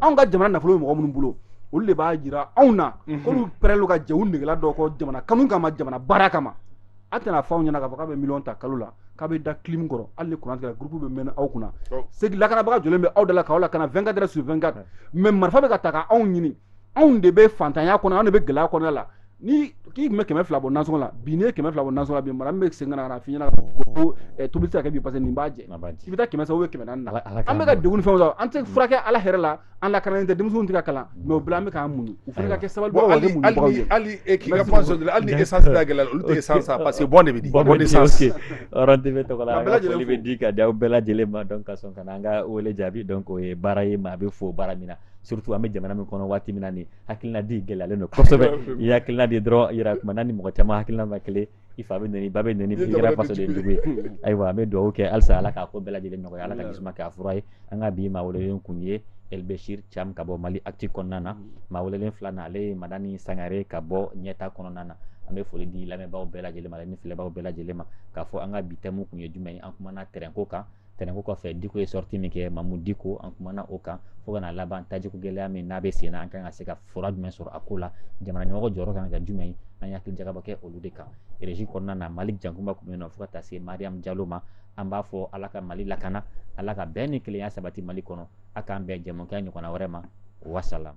anw ka jamana nafolo bɛ mɔgɔ minnu bolo olu de b'a jira anw na mhm. k'olu pɛrɛnlen ka jɛ u negela dɔw kɔ jamana kanu kama jamana baara kama a tɛna fɔ anw ɲɛna k'a fɔ k'a bɛ miliyɔn ta kalo la k'a bɛ da clim kɔrɔ hali ni kuran tigɛra gurupu bɛ mɛnɛ aw kunna oh. segi lakanabaga jɔlen bɛ aw da la k'aw lakana 24 heures sur 24 mais marifa bɛ ka ta ka anw ɲini anw de bɛ fantanya kɔnɔ anw de bɛ gɛlɛya kɔnɔ la ni k'i tun bɛ kɛmɛ fila bɔ nasɔngɔ la bi n'i ye kɛmɛ fila bɔ nasɔngɔ la bi mara bɛ segin ka na f'i ɲɛna ko tobili tɛ se ka kɛ bi parce que nin b'a jɛ i bɛ taa kɛmɛ ye kɛmɛ naani na an bɛ ka degun fɛn la an tɛ furakɛ ala yɛrɛ la an lakanalen tɛ denmisɛnw tɛ ka kalan mais o bɛɛ la an bɛ k'an muɲu u fana ka kɛ sabali hali e k'i ka hali essence gɛlɛya olu tɛ essence san parce que bon de bɛ di tɔgɔ la an ka foli bɛ di ka di aw bɛɛ lajɛlen ma donc ka sɔn ka na an ka wele jaabi donc o ye baara ye maa bɛ fo baara min na surtout an bɛ jamana min kɔnɔ waati min na nin hakilina di gɛlɛyalen don kosɛbɛ i hakilina di dɔrɔn i yɛrɛ kumana ni mɔgɔ caman hakilina ma kelen i fa bɛ nɛni i ba bɛ nɛni i kɛra fasoden jugu ye ayiwa an bɛ dugawu kɛ halisa ala k'a ko bɛɛ lajɛlen nɔgɔya ala ka jisuma k'a fura ye an ka bi maa welelen kun ye elbesiri cam ka bɔ mali actu kɔnɔna na maa welelen filanan ale ye madani sangare ka bɔ ɲɛta kɔnɔna na an bɛ foli di lamɛnbaaw bɛɛ lajɛlen ma ni filɛbaw bɛɛ lajɛlen ma k'a fɔ an ka bi tɛmu tun ye jumɛn ye an kumana tɛrɛnko kan tɛrɛnko kɔfɛ diko ye sɔriti min kɛ mamu diko an kumana o kan fo ka na laban tajiko gɛlɛya min n'a bɛ sen na an kan ka se ka fura jumɛn sɔrɔ a ko la jamana ɲɛmɔgɔ jɔyɔrɔ kan ka kɛ jumɛn ye an ye hakili jagabɔ kɛ olu de kan reji kɔnɔna na maliki jankunba tun bɛ nɔ fo ka taa se mariam jalo ma an b'a fɔ ala ka mali lakana ala ka bɛn ni kelenya sabati mali kɔnɔ a k'an bɛn jɛmukan ɲɔgɔnna wɛrɛ ma wasalam